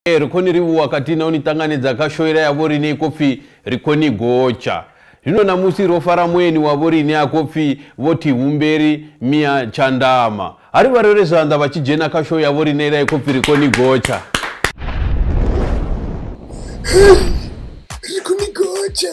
Ee, ri khou ni livhuwa khathihi na u ni ṱanganedza kha shoela ya vhoriṋe i khou pfi Ri Khou Ni Gotsha. Zwino ṋamusi ro fara mueni wa vhoriṋe a khou pfi Vho Thivhumberi Mia Tshandama. Ha ri vha rere zwanḓa vha tshi dzhena kha shou ya vhoriṋe ila i khou pfi Ri Khou Ni Gotsha. Ri khou ni gotsha.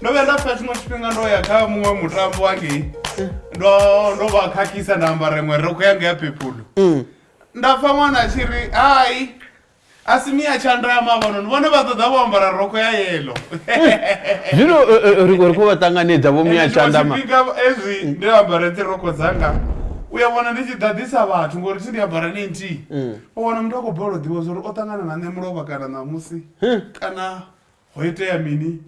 ndo vhuya nda pfa tshiṅwe tshifhinga ndo ya kha muṅwe mutambo wangei ndo ndo vha khakhisa nda ambara iṅwe roko yanga ya pepulu mm. nda pfa ṅwana a tshi ri hai a si miya tshandama vhano vhone vha ṱoḓa vho ambara roko ya yelo zwino eh, eh, ri khou vha ṱanganedza vho miya tshandama ezwi ndi ambare dzi roko dzanga u ya vhona ndi tshi ḓaḓisa vhathu ngori thi ndi ambara ni nthihi mm. u wana muthu a khou balelwa ḓivha zwa uri o ṱangana na nṋe mulovha kana ṋamusi hmm. kana ho itea mini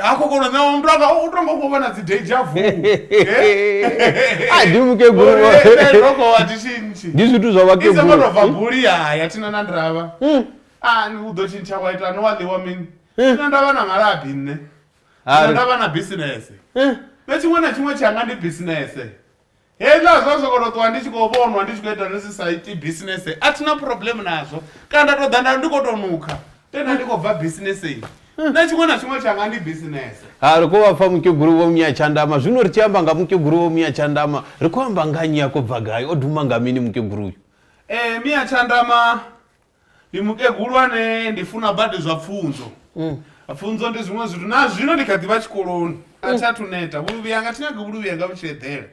ha kokolo na mntu anga u tongo ku vona dzi deja vu a ndi mukegulu roko wa tishinchi ndi zwithu zwa vhakegulu izo ngoto va buli ya ya tina na ndrava hmm. a ni u do tshintsha wa ita no wa liwa mini hmm. tina ndava na malabi nne tina ndava na business hmm. na tshiṅwe na tshiṅwe tshi anga ndi business hezwiḽa zwa soko to ṱuwa ndi tshi khou vhonwa ndi tshi khou ita nisi sa iti bisinese a thina problem nazwo kana nda to ḓa nda ndi khou to nukha tena ndi khou bva bisineseni na tshiṅwe na tshiṅwe tshanga ndi bisinese ha ri khou vha pfa mukegulu vho munya tshandama zwino ri tshi amba nga mukegulu vho munya tshandama ri khou amba nga nyi a khou bva gai o duma nga mini mukegulu uyu um miya tshandama Ndi mukegulu ane ndi funa badi zwa pfunzo pfunzo ndi zwiṅwe zwithu na zwino ndi kha ḓivha tshikoloni a thi athu neta vhuluvhi yanga thi nyagi vhuluvhi yanga vhu tshi eḓela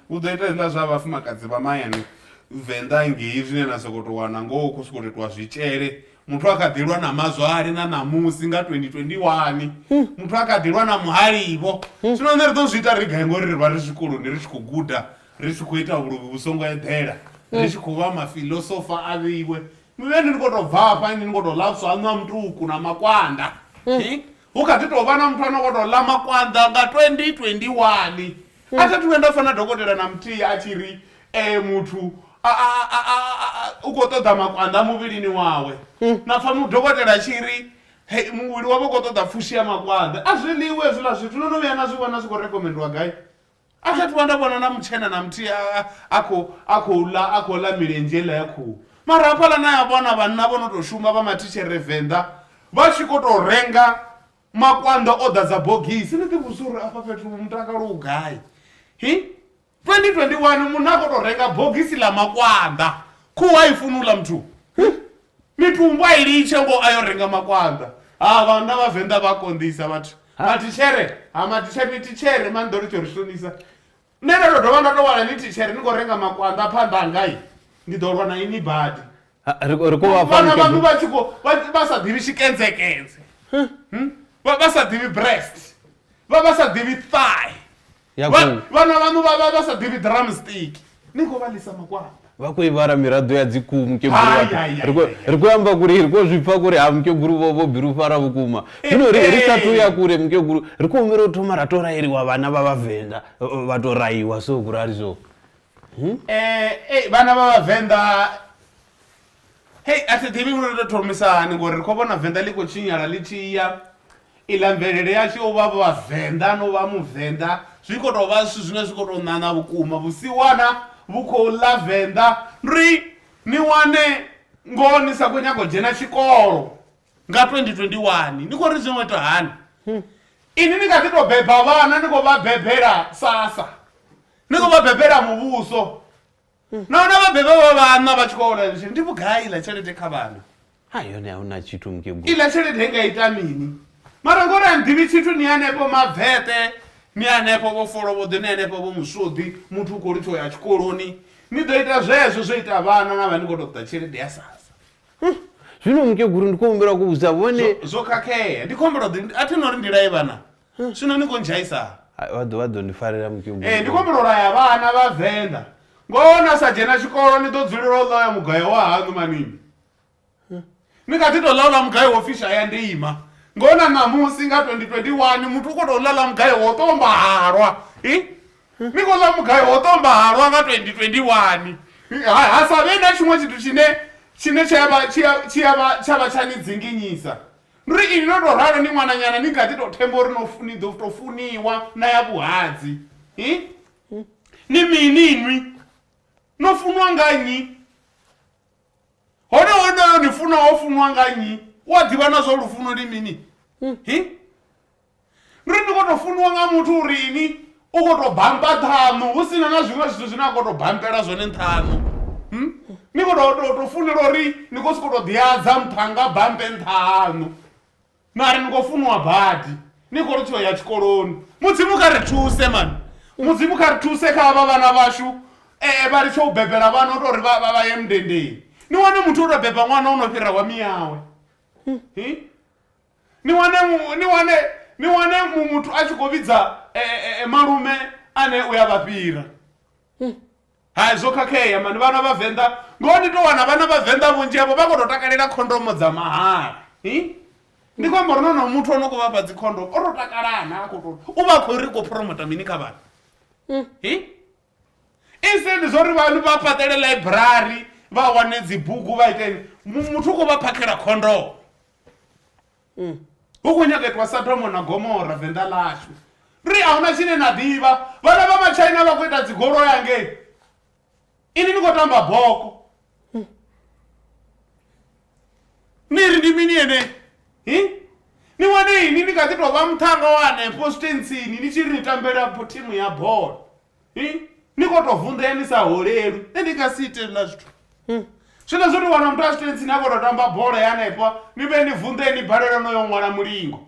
u ḓo ita hezwiḽa zwa vhafumakadzi vha mahayani venḓa ngei zwine na sokou tou wana ngoho khou sokou itiwa zwitshele muthu a kha ḓi lwa na mazwale na ṋamusi nga 2021 muthu a kha ḓi lwa na muhalivho zwino nṋe ri ḓo zwi ita ri gai ngori ri vha ri zwikoloni ri tshi khou guda ri tshi khou ita vhuluvhi vhu songo eḓela ri mm. tshi khou vha mafilosofa a vhiwe mivheni ni khou tou bva afha ini ni khou tou lapswa aṋwa mutuku na makwanda mm. eh? hu kha ḓi tou vha na muthu a no khou tou ḽa makwanda nga 2021 mm. a tha thu vhe nda fana dokotela na muthihi a tshi ri um muthu u khou ṱoḓa makwanda muvhilini wawe na pfha mudokotela a tshi ri he muvhili wavho u khou ṱoḓa pfushi ya makwanda a zwiḽiwe hezwiḽa zwithu no no vhuya na zwi vhona zwi khou rekomendiwa gai a tha ṱuwa nda vhona na mutshena na muthihi a khou ḽa a khou ḽa milenzhe iḽa ya khuhu mara hafhaḽa na ya vhona vhanna vho no tou shuma vha mathishere venḓa vha tshi khou tou renga makwanda o ḓadza bogisi ni ḓivhudzisa uri afha fhethu mutakalo u gai hi 2021 munna a khou tou renga bogisi ḽa makwanda khuhu a i funi u ḽa muthu Mitumbu a i litshe ngoho a yo renga makwanḓa. Ha vhanna vha Venḓa vha konḓisa vhathu. Matitshere, ha matitshere ni titshere mani ḓo ri tsho ri shonisa. Nṋe ndo to dovha nda to wana ni titshere ni kho renga makwanḓa phanḓa hanga i. Ndi ḓo lwa na ini badi. Ri ri kho vha fha mukegulu. Vhana vha tshi kho vha sa ḓivhi tshikenzekenze. Vha vha sa ḓivhi breast. Vha vha sa ḓivhi thigh. ya Vha- khou vhana vhaṋu vha vha vha sa ḓivhi drumstick ni khou vha lisa makwanda vha khou ivara miraḓo ya dzikuu mukegulu Hai, vhathu. hai, hai, Ri khou- hai, hai. ri khou amba kuri ri khou zwi pfa kuri ha mukegulu vho vho bilufhara vhukuma zwino ri ri sathu ya kure mukegulu ri khou humbela u thoma ra tou rayeliwa vhana vha vhavenḓa eh, vha tou rayiwa so kurali so um vhana vha vhavenḓa hei a thi ḓivhi uri ri tou thomisa hani ngori ri khou vhona venḓa ḽi khou tshinyala ḽi tshi ya iḽa mvelele yashu yo vha vhavenḓa no vha muvenḓa zwi khou tou vha zwithu zwine zwi khou tou ṋaṋa vhukuma vhusiwana vhu khou ḽa venḓa ri ni wane ngoho ni sa khou nyaga u dzhena tshikolo nga 2021 ni khou ri zwi ngo ita hani ini ni kha ḓi tou beba vhana ni khou vha bebela sasa ni khou vha bebela muvhuso nahone vhabebi vha vhanna vha tshi khou hola lishini ndi vhugai iḽa tshelede kha vhana ha yone a hu na tshithu mukegulu iḽa tshelede i nga ita mini mara ngori a nḓivhi tshithu ni hanefho mavete ni hanefho vho folovhoḓi ni hanefho vho muswoḓi muthu u khou litho ya tshikoloni ni ḓo ita zwezwo zwo ita vhana na vha ni khou tou ṱoḓa tshelede ya sasa zwino mukeguru ndi khou humbela ku vhudza vhone zwo khakhea ndi khombela ḓi a thi no ri ndila ye vhana zwino ni khou ndzhaisa Hai, vha ḓo vha ḓo ndi farela mukegulu ee ndi khou humbula u laya vhana vha venḓa ngoho na sa dzhena tshikolo ni ḓo dzulela u ḽoya mugayo wa haṋu manini ni kha ḓi tou ḽa ula mugayo wo pfi shaya ndeima ngoho na ṋamusi nga 2021 muthu u khou tou ḽa ḽa mugayo wo ṱomba halwa i ni khou ḽa mugayo wo ṱomba halwa nga 2021 ha, ha sa vhe na tshiṅwe tshithu tshine tshine tsha vha- tshi a- tshi a vha- tsha vha tsha ni dzinginyisa Ri ini no tou ralo ni ṅwananyana ni kha ḓi tou themba uri no funi ḓo tou funiwa na ya vhuhadzi hi ni mini inwi no funwa nga nnyi hone honoyo ni funa wo funwa nga nnyi u a ḓivha na zwa lufuno ndi mini hi Ri ndi khou tou funiwa nga muthu uri ini u khou tou bampa ṱhaṋu hu sina na zwiṅwe zwithu zwine a khou tou bampela zwone nṱhaṋu hmm? ni khou tou tou tou funela uri ni khou sokou tou ḓiadza nṱhanga bampe nṱha haṋu mara ni khou funiwa badi ni khou ri tsho ya tshikoloni mudzimu kha ri thuse mani mudzimu kha ri thuse kha avha vhana vhashu um vha litshe u bebela vhana u to uri vha ye mundendeni ni wane muthu o tou beba ṅwana o no fhira wa miyawe hmm? ni wane ni wane ni wane muthu a tshi khou vhidza e, e, e, malume ane u ya vha fhira hmm. hai zwo khakhea mani vhana vhavenḓa ngoho ni to wana vhana vhavenḓa vhunzhi avho vha khou to takalela khondomo dza mahala ndi khou amba uri nono muthu o no khou vhafha dzikhondomo o to takalana a khou to u vha khou ri khou promota mini kha vhana hmm. instead zwo ri vhanu vha fhaṱele library vha wane dzibugu vha iteni muthu u khou vha phakhela khondomo hu khou nyaga itwa sadomo na gomora venḓa ḽashu ri a huna tshine na ḓivha vhana vha matshaina vha khou ita dzigolo yangei ini ni khou tamba boko ni ri ndi mini ene hi ni wane ini ni kha ḓi tou vha muṱhanga wa hanefho sitentsini ni tshi ri ni tambela thimu ya bola ni kho to vunḓea ni sa holeli nṋe ndi nga si ite na zwithu hmm. zwino zwo tou wana muthu a zwitentsi ni a kho to tamba bola ya hanefha ni vhe ni vunḓee ni balelwa no yo ṅwala mulingo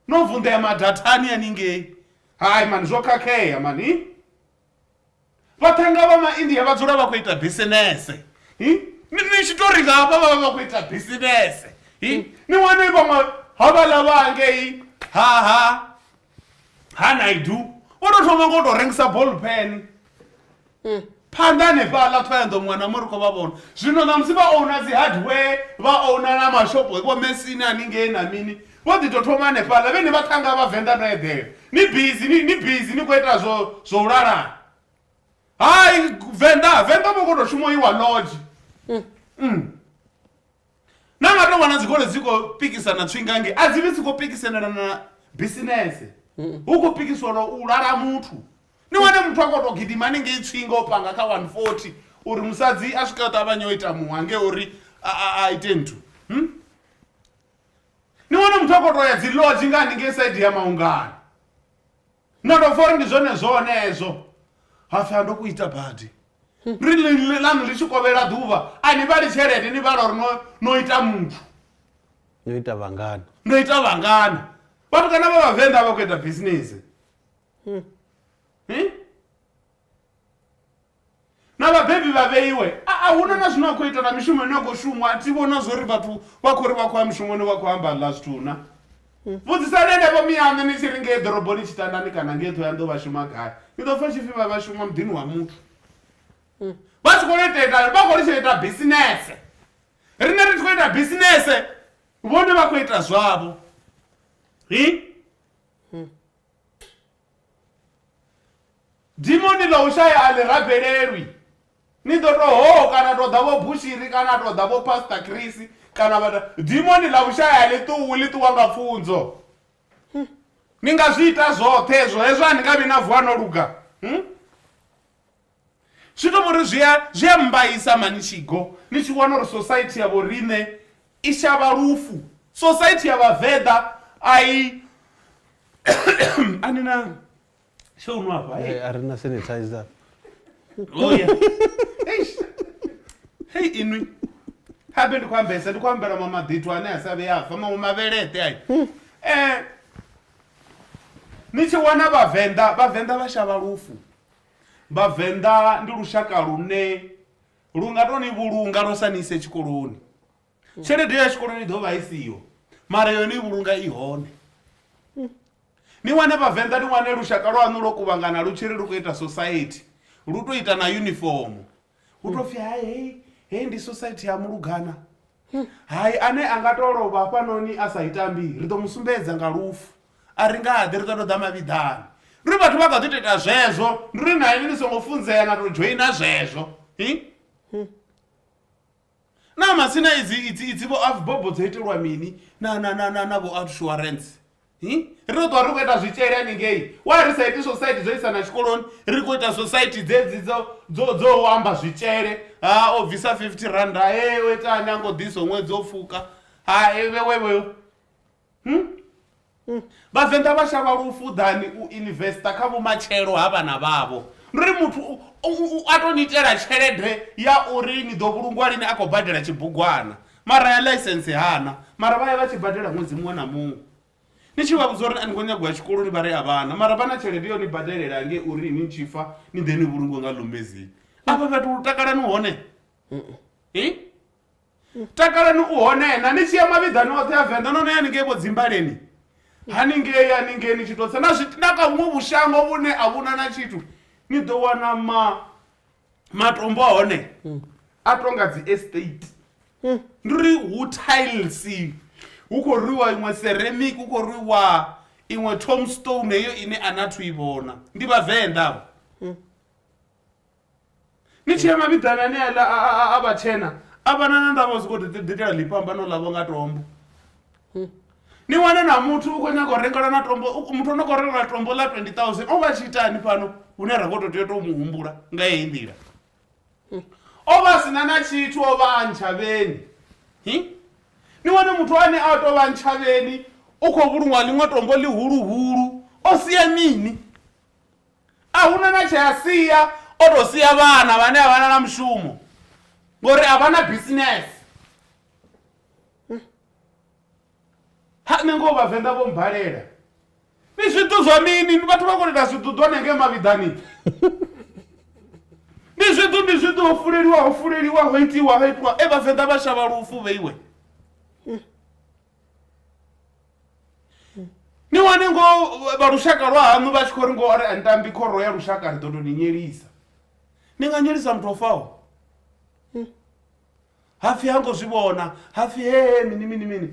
no vunḓea madathani aningei hai mani zwo khakhea mani vhaṱhanga vha maindia vha dzula vha khou ita bisinese ni tshi to ri nga hafha vha vha vha khou ita bisinese ni wane vhaṅwe havhaḽa vha ngei ha ha hana idu o to thoma ngo to rengisa ball pen hmm. phanḓa hanefhaḽa ṱhoyanḓo muṅwe na muṅwe ri khou vha vhona zwino na musi vha ouna dzi hardware vha ouna na mashopo vho mesini haningei na mini vho ḓi to thoma hanefhaḽa vhene vha ṱhanga vha venḓa no eḓela ni bizi ni bizi ni khou ita zwo zwo u lalana hai venḓa venḓa vho khou to shuma iwa lodge hmm. hmm. na nga tou wana dzikolo dzi khou pikisana tswingange a dzi vhi dzi khou pikisanela na bisinese hu khou pikiswelwa u lala muthu ni wane muthu a khou tou gidima hanengei tswinga o panga kha 140 uri musadzi a swika ṱavhanye o ita muha nge uri a, a, a ite nthu hmm? ni wane muthu a khou tou ya dzi lodge nga hanengei saidi ya maungani No ndo pfa uri ndi zwone zwone hezwo. Ha pfi ha ndo ku ita badi. Ri li- li- ḽaṋu ḽi tshi kovhela ḓuvha a ni vhali tshelede ni vhala uri no- no ita muthu. no ita vhangana ndo ita vhangana vhatukana vha vhavenḓa vha khou ita bisinese na vhabebi vha vheiwe a hu na na zwine a khou ita na mishumo ine a khou shumwa a thi vhona zwo ri vhathu vha khou ri vha khou ya mushumoni vha khou amba ḽa zwithu na hmm. vhudzisani henevho miyaṋe ni tshi ri ngei ḓoroboni tshitandani kana ngei ṱhoya nḓo vha shuma gai ni ḓo pfa tshipfi vha vha shuma muḓini wa muthu hmm. vha tshi khou ita ita vha khou litsha ita bisinese rine ri tshi khou ita bisinese vhone vha khou ita zwavho hi hmm. Dimoni ḽa u shaya a ḽi rabelelwi. Ni ḓo tou hoo kana tou ḓa vho Bushiri kana tou ḓa vho Pastor Chris kana vha dimoni ḽa u shaya a ḽi ṱuwi ḽi ṱuwa nga pfunzo. Ni nga zwi ita zwoṱhe hezwo hezwo a ni nga vhi na vuwa no luga. Zwi to vhori zwi a zwi a mmbaisa mani Tshigo ni tshi wana uri society ya vho riṋe i shavha lufu. Society ya vhavenḓa a i a ni na tsho u nwa hafha hei. A ri na sanitizer. Oh ya. Eish. Hei inwi. Habe ndi khou ambesa ndi khou ambela ma maḓithu ane a sa vhe a fa maṅwe mavheleṱe ayo. Eh ni tshi wana vhavenḓa vhavenḓa vha shavha lufu. Vhavenḓa ndi lushaka lune lu nga to ni vhulunga lwa sa ni ise tshikoloni tshelede ya tshikoloni i ḓo vha i siho mara yone i vhulunga i hone ni wane vhavenḓa ni wane lushaka lwaṋu lwo kuvhangana lu tshiri lu khou ita society lu to ita na yunifomo hu tou pfi hai hei hei ndi society ya mulugana hai ane a nga tou lovha hafhanoni a sa itambi ri ḓo mu sumbedza nga lufu a ri nga ḓi ri ḓo tou ḓa mavhiḓani ri vhathu vha kha ḓi tou ita zwezwo ndi ri na ini ni songo funzea na tou dzhoina zwezwo hi Naa masina idzi idzi idzi vho avbobo dzo itelwa mini na na na na na vho outsurance? Hi? Ri ḓo ṱuwa ri khou ita zwitshele haningei. Wa ri sa iti society dzo isa na tshikoloni, ri khou ita society dzedzi dzo dzo dzo u amba zwitshele. Ha o bvisa 50 rand, ha e o itani a ngo ḓisa ṅwedzi o pfuka. Ha e vhe we vhe. Hmm? Hmm. vhavenḓa vha shavha lufuḓani u investa kha vhumatshelo ha vhana vhavho ndi ri muthu a to ni itela tshelede ya uri ni ḓo vhulungwa lini a khou badela tshibugwana mara ya ḽaisense hana mara vha ya vha tshi badela ṅwedzi muṅwe na muṅwe ni tshi vha vhudza uri a ni khou nyago ya tshikoloni vha ri a vhana mara vha na tshelede yo ni badelela nge uri ni tshi fa ni ḓe ni vhulungwe nga lomezini afha fhethu lu takalani hone i takalani u hone na ni tshi ya mavhiḓani oṱhe a venḓa no no ya ningei vho dzimbaleni haningei haningei ni tshi tou tsa na zwi na ka vhuṅwe vhushango vhune a vhuna na tshithu ni ḓo wana ma matombo a hone a tonga dzi estate ndi uri hu tiles hu khou rwiwa iṅwe ceramic hu khou rwiwa iṅwe tomstone heyo ine a na thu i vhona ndi vhavenḓa vho Ni tshee mavhiḓani aneaḽa a vhatshena a vha na na ndavha zwi khou ḓitela ḽifhambano ḽavho nga tombo. Ni wane na muthu u khou nyaga u rengelwa na tombo muthu ano khou rengelwa tombo ḽa twenty thousand o vha a tshi itani fhano hune ra khou to tea u to mu humbula nga heyi nḓila. O vha a sina na tshithu o vha a ntshavheni ni wane muthu ane a tou vha ntshavheni u khou vhulunga ḽiṅwe tombo ḽihuluhulu o sia mini. A hu na na tshe a sia, o tou sia vhana vhane a vha na na mushumo ngori a vha na bisinese. Ha nṋe ngoho vhavenḓa vho mmbalela. Ni zwiḓu zwa mini ni vhathu vha kho ita zwiḓuḓu hanengei mavhiḓani. Ndi zwiḓu ndi zwiḓu ho fuleliwa ho fuleliwa ho itiwa ha itiwa e vhavenḓa vha shavha lufu vheiwe. ni wane ngo vha lushaka lwa haṋu vha tshi khou ri ngo ri antambi khoro ya lushaka ri ḓo to ni nyelisa ni nga nyelisa muthu o faho hapfi ha ngo zwi vhona hapfi hee mini mini mini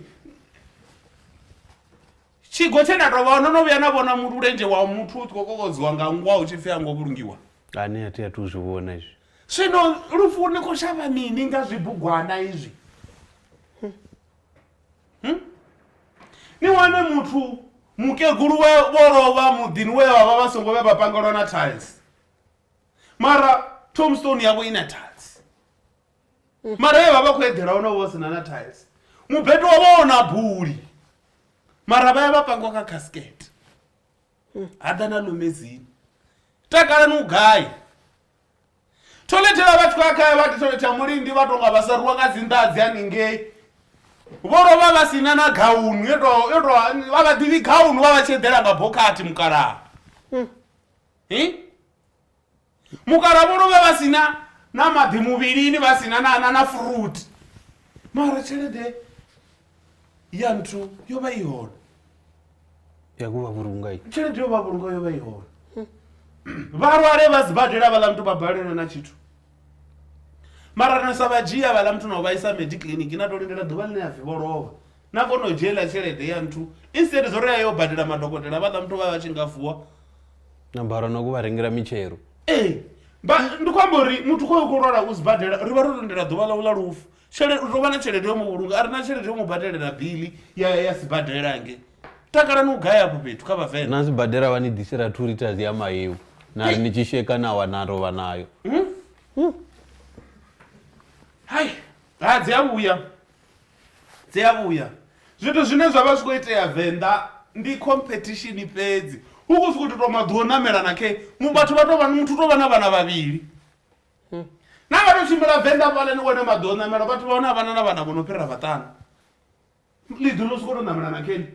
tshigo tshe nda tovha no no vhuya na vhona mulenzhe wa muthu u tshi khou kokodziwa nga ngwa u tshi pfi ha ngo vhulungiwa ani a thi a thu zwi vhona izwi zwino lufu ni khou shavha mini nga zwibugwana izwi Hmm? ni wane muthu mukegulu we vho lovha muḓini we vha vha vha songo vhe vha pangelwa na tiles mara tomstone yavho i na tiles mara ye vha vha khou eḓela hone vho sina na tiles mubeto wa vha ona buli mara vha ya vha pangwa kha casket ha ḓa na lumedzini takalani u gai Thoḽethe ya vhathu vha kha vha thoḽethe ya mulindi vha tonga vha sa ruwa nga dzi nḓadzi haningei vho lovha vha si na na gaunu yo to yo to vha vha ḓivhi gaunu vha vha tshi eḓela nga bokhathi mukalaha hi mukalaha vho lovha vha si na na maḓi muvhilini vha si na na na na furuthi mara tshelede ya nthu yo vha i hone ya kuvha vhulunga i tshelede yo vha vhulunga yo vha i hone vhalwale vha sibadela vhaḽa muthu vha balelwe na tshithu mara na sa vha dzhia vhaḽa muthu na u vhaisa medi kiḽiniki na to lindela ḓuvha ḽine ya pfhi vho lovha na kona u dzhiela tshelede ya nthu instead zwo ri a yo badela madokotela vhaḽa muthu vha vha tshi nga vuwa na bara na ku vha rengela mitshelo ee ndi khou amba uri muthu khoyo khou lwala u sibadela ri vha ro lindela ḓuvha ḽau ḽa lufu Tshelede u tou vha na tshelede yo mu vhulunga a re na tshelede yo mu badelela biḽi ya ya sibadela hange takalani u gaya afho fhethu kha vhavenḓa na sibadela vha ni ḓisela two liters ya mahewu na ri ni tshi sheka na wa na rovha nayo hai ha dzi a vhuya dzi a vhuya zwithu zwine zwa vha zwi khou itea venḓa ndi competition fhedzi hu khou sokou tou maḓi o namela na khe vhathu vha tou vha muthu tou vha na vhana vhavhili na nga to tshimbila venḓa fhala ni wane maḓi o ṋamela vhathu vha hone a vhana na vhana vho no fhira vhaṱanu ḽiḓi ḽo soko to ṋamela na keni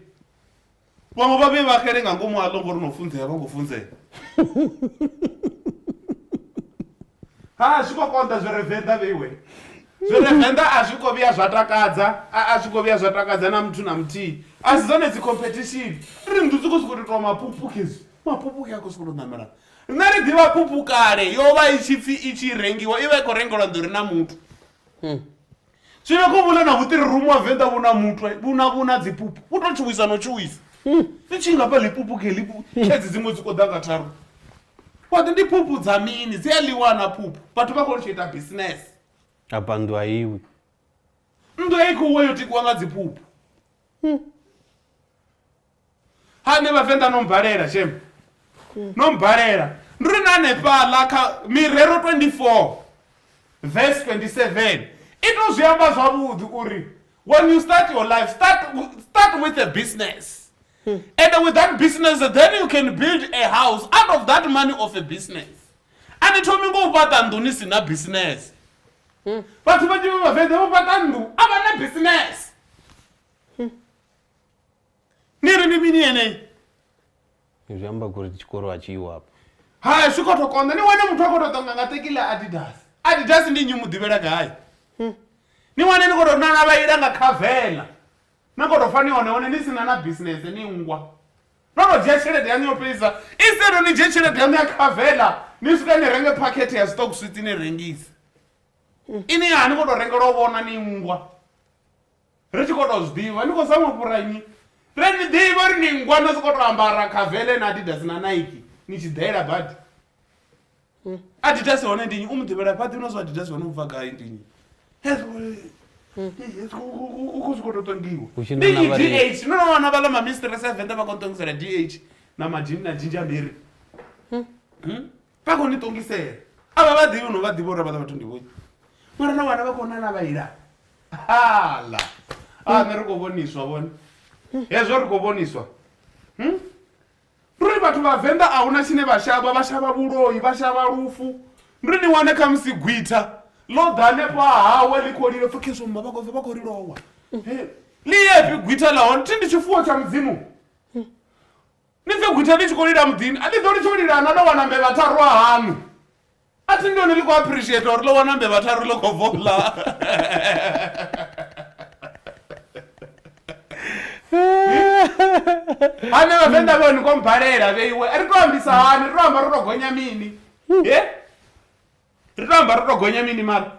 vhaṅwe vha vhe vha xele nga ngomu aḽo ngori no funzea vha khou funzea ha zwi khou konḓa zwi re venḓa vheiwe zwi re venḓa a zwi khou vhuya zwa takadza a zwi khou vhuya zwa takadza na muthu na muthihi a si dzone dzi competition ri nnḓu dzi khou sokou tou tou mapupukezi mapupuke a khou sokou tou ṋamela Riṋe ri ḓivha phuphu kale yo vha i tshi pfi i tshi rengiwa i vha i khou rengelwa nḓori na muthu. Hmm. Zwino kho vhule na vhuṱiri rumu wa venḓa vhu na muthu vhu na vhu na dziphuphu vhu to tshuwisa no tshuwisa. Hmm. Ni tshi nga fha ḽipupu ke ḽipu hmm. khedzi dziṅwe dzi koḓa nga tharu. Waḓi ndi phuphu dza mini dzi a ḽiwa na phuphu vhathu vha khou tshi ita business. A bandu a iwi. Ndo i khou wa yo tikiwa nga dziphuphu. Hmm. ha nṋe vhavenḓa no mbalela shem no mbalela ndi ri na hanefhaḽa kha mirero 24 verse 27 i to zwi amba zwavhuḓi uri when you start your life start, start with a business hmm. and with that business then you can build a house out of that money of a business a ni thomi ngo u fhaṱa nnḓu ni si na business hmm. vhathu vhanzhi vha vhavenḓa vho fhaṱa nnḓu a vha na business niri ni mini yeneyi zwi amba kuri tshikolo a tshiiwo apo haya zwi khou to konḓa ni wane muthu a khou to ṱonga nga tekile adidas adidas ndi nnyi mu ḓivhela gai hmm. ni wane ni khou to nana vha ila nga khavela na khou to fa ni hone hone ni sina na bisinese ni ngwa no to dzhia tshelede yaṋu yo fhelisa instead ni dzhie tshelede yaṋu ya khavela ni swika ni renge phakhethe ya stock switsi ni rengise hmm. ini ya ni khou to rengela u vhona ni ngwa Ri tshi khou tou zwi ḓivha, ni khou zama u fhura nnyi? Ri a ni ḓivha uri ni nngwa no sokou tou ambara Kavele na Adidas na Nike ni tshi ḓela badi. Adidas hone ndi nnyi? U mu ḓivhela fhaḓi no zwa Adidas hone u bva gai ndi nnyi? Hezwi u- u- u- u khou zwi khou tou ṱongiwa. Hu tshi Ndi nona nnyi vha ri- DH? No no wana vhaḽa ma mistress a Venḓa vha khou ṱongisela DH na madinna Ginger Mary. vha khou ni ṱongisela a vha vha ḓivhi no vha ḓivha uri vhaḽa vhathu ndi vhoi mara na wana vha khou nana vha ila hala a nṋe ri khou vhoniswa vhone hezwo ri khou vhoniswa Hmm? ndi uri vhathu vhavenḓa a huna tshine vha shavha vha shavha vhuloi vha shavha lufu ndi uri ni wane kha musi gwitha ḽo ḓa hanefho hahawe ḽi khou lilo pfukheso mma vha khou vha khou lilowa ḽi yefi gwitha ḽa hone thi ndi tshifuwo tsha mudzimu Ni ḓo gwitha ni tshi khou lila muḓini a ni ḓo litsha u lila na ḽo wana mbevha tharu a haṋu a thi ndoni ḽi khou appreciate uri ḽo wana mbevha tharu ḽo khou bvo ḽa hane vhavenḓa vhoni khou mbalela vheiwe ri tou ambisa hani ri tou amba ro tou gonya mini e ri tou amba ro tou gonya mini mara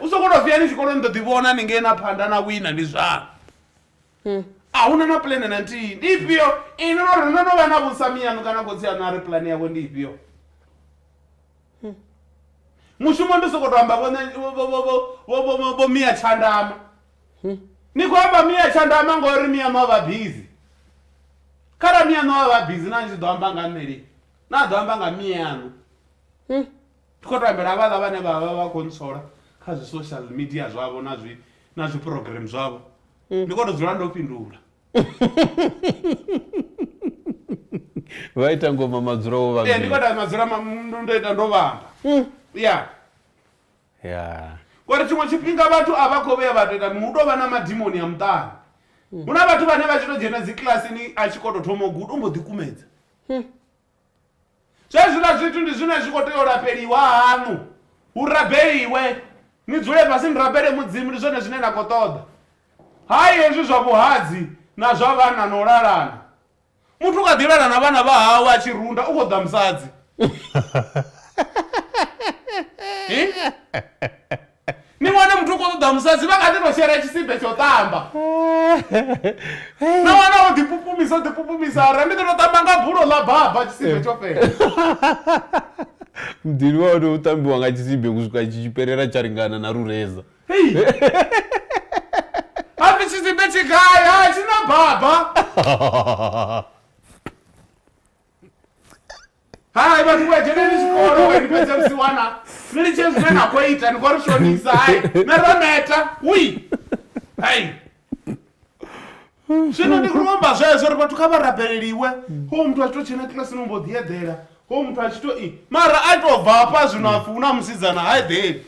u songo to vhiyani tshikoloni ḓo ḓi vhona ni ngena phanḓa na wina ndi zwanu hmm. a hu na na pulane na nthihi ndi ifhio ini no ri no no vha na vhusami yanu kana khotsi yanu a ri pulane yavho ndi ifhio hmm. mushumo ndi soko to amba vho miya tshandama hmm. ni khou amba miya tshandama ngori miya no vha bizi khara miya no vha bizi na ni tshi ḓo amba nga nṋe lini na ḓo amba nga miya yanu Ndi khou tambela havhaḽa vhane vha vha vha khou ntsola kha zwi social media zwavho na zwi na zwi program zwavho ndi khou tou dzula ndo fhindula vha ita ngoma madzula wo vha ee ndi khou ita madzula ma- m- ndo ita ndo vhamba ya ya ngori tshiṅwe tshifhinga vhathu a vha khou vhuya vha tou ita hu tou vha na madimoni a muṱani hu na vhathu vhane vha tshi tou dzhena dzi kilasini a tshi khou tou thoma u guda u mbo ḓi kumedza Zwenezwiḽa zwithu ndi zwine zwi khou tea u lafheliwa haṋu, hu rabeliwe, ni dzule fhasi ni rabele Mudzimu, ndi zwone zwine na khou ṱoḓa. Hai hezwi zwa vhuhadzi na zwa vhana na u lalana. Muthu u kha ḓi lala na vhana vha hawe a tshi runda, u khou ṱoḓa musadzi. Ni wane muthu u khou ṱoḓa musadzi vha kha ḓi tou shera tshisibe tsha u ṱamba. Na wana o ḓipupumisa o ḓipupumisa a ri ndi ḓo tou ṱamba nga bulo ḽa baba tshisibe tsho fhela. Muḓini wa hone hu ṱambiwa nga tshisibe u swika tshi tshi fhelela tsha lingana na lureza. Hei! Ha pfi tshisibe tshi gai? Hai tshi na baba. hai vhathu vha dzheneni tshikolo we ni fhedze musi wana ni litshe zwine na khou ita ni khou ri shonisa hai na ro neta ui hai zwino ndi khou amba zwezwo uri vhathu kha vha rabeleliwe ho muthu a tshi tou tshena kilasini mbo ḓi eḓela ho muthu a tshi tou i mara a tou bva hafha zwino a pfhi hu na musidzana ha eḓeli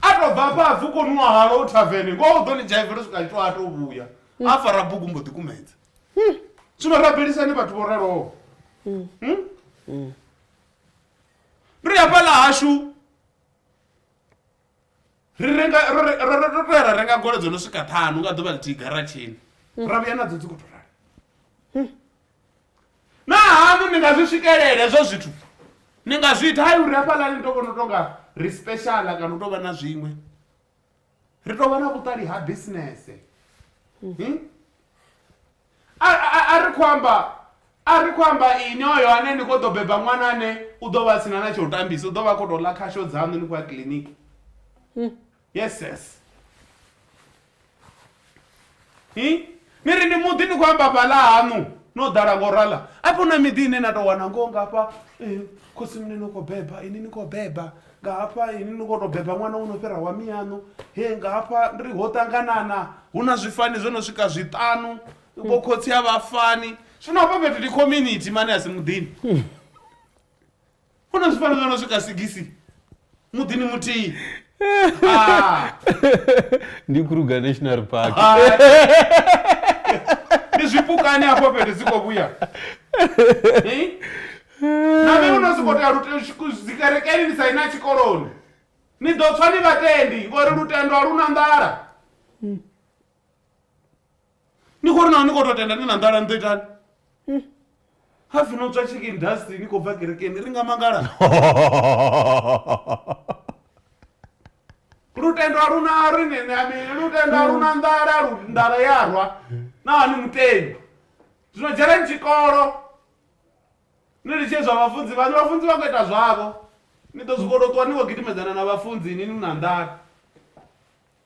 a to bva afha apfi u kho nwa halo u thavene ngoho u ḓo ni dzhaivela u swika a tshi to a to vhuya a fara bugu mbo ḓi kumedza zwino rabelisani vhathu vho raloho Hmm? ri hafhaḽa hashu ri renga ro- ro- ro- ro- ro ya ra renga golo dzo no swika ṱhanu nga ḓuvha ḽithihi garatshini ra vhuya nadzo dzi khou to rali na haṋu ni nga zwi swikelela hezwo zwithu ni nga zwi ita hai uri hafhaḽani ni to vhona u tonga ri speciala kana u tovha na zwiṅwe ri tovha na vhuṱali ha bisinese hmm? a ri khou amba a ri khou amba ini oyo ane ni khou ḓo beba ṅwana ane u ḓo vha sina na tsha u tambisa u ḓo vha khou tou ḽa khasho dzaṋu ni khou ya kiḽiniki hmm. yes yes hi ni ri ndi muḓi ni khou amba fhaḽa haṋu no ḓala ngo rala afho na miḓi ine na tou wana ngoho nga hafha eh, khosi mune no khou beba ini ni khou beba nga hafha ini ni khou tou beba ṅwana wo no fhira wa miyaṋu he nga hafha ri ho ṱanganana hu na zwifani zwo no swika zwiṱanu vho khotsi a vhafani zwino hafha fhethu ndi community mane a si muḓini hu na zwifhano zwo no swika sigisi muḓini muthihi Ah, ndi kruger national park ah. ndi zwipukani hafho fhethu dzi khou vhuya Eh? na vhe uno siko tea lute- tshiku- dzikerekeni ni sa ina tshikoloni ni ḓo tswa ni vhatendi ngori lutendo a lu na nḓala ni khou ri naho ni khou tou tenda ni na nḓala ni ḓo itani hmm. ha pfi no tswa chicken dust ni khou bva kerekeni ri nga mangala lutendo a luna ri nene amini lutendo a luna nḓala nḓala ya rwa naho ni mutendi zwino dzheleni tshikolo ni litshe zwa vhafunzi vhani vhafunzi vha khou ita zwavho ni ḓo zwikolotwa ni khou gidimedzana na vhafunzi ni ni na nḓala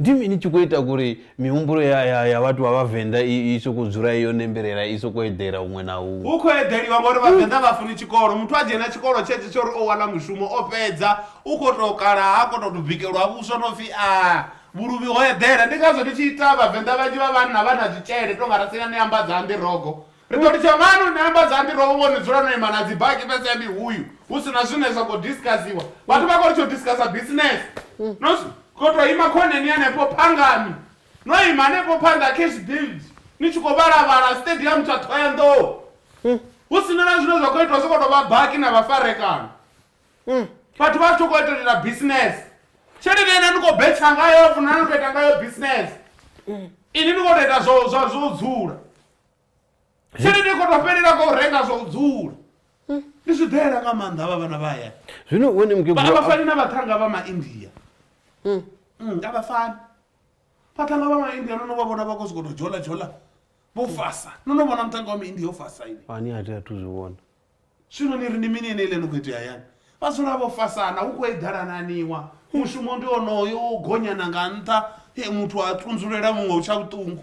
Ndi mini tshi khou ita uri mihumbulo ya, ya, ya vhathu vha Vhavenḓa i, i sokou dzula i yo nembelela, i sokou eḓela huṅwe na huṅwe? Hu khou eḓeliwa ngauri Vhavenḓa vha funi tshikolo. Muthu a dzhena tshikolo tshetsho tsha uri o wana mushumo, o fhedza, u khou tou kala, ha khou tou tou bikelwa vhuswa no pfi a, vhuluvhi ho eḓela. Ndi ngazwo ndi tshi ita Vhavenḓa vhanzhi vha vhanna vha na zwitshele, tou nga Rasinah Neambadzambi Rogo, Ri ḓo litsha ngani u ni ambadza andiroho vho ni dzula no ima na dzibaki fhedzi ya mihuyu hu si na zwine zwa khou diskasiwa? Vhathu vha khou litsha u diskasa bisinese. No khou tou ima khoneni hanefho phangani, no ima hanefho phanḓa ha Cash Build ni tshi khou vhala-vhala Stadium tsha Thohoyandou hu si na na zwine zwa khou itwa, zwi khou tou vha baki na vhafarekana. Vhathu vha tshi khou tou itela bisinese. Tshelede ine ni khou betsha ngayo hafho na no tou ita ngayo bisinese, inwi ni khou tou ita zwa u dzula. tshelede kho to fhelela kha u renga zwa u dzula hmm. ni zwi ḓela nga maanḓa vha vhana vha hayani zwino wene mukegulu vha fani na vhathanga vha maindia hmm. hmm, a vha fani vhathanga vha maindia no no vha vhona vha khou sokou tou dzhola dzhola vho fasa no no vhona muthanga wa maindia o fasa ini ani a tea a thu zwi vhona zwino ni ri ni mini ene ile ni khou itea hayani vha dzula vho fasana hu khou eḓalananiwa mushumo ndi onoyo wo gonyana nga nṱha muthu a tunzulela muṅwe u tsha vhuṱungu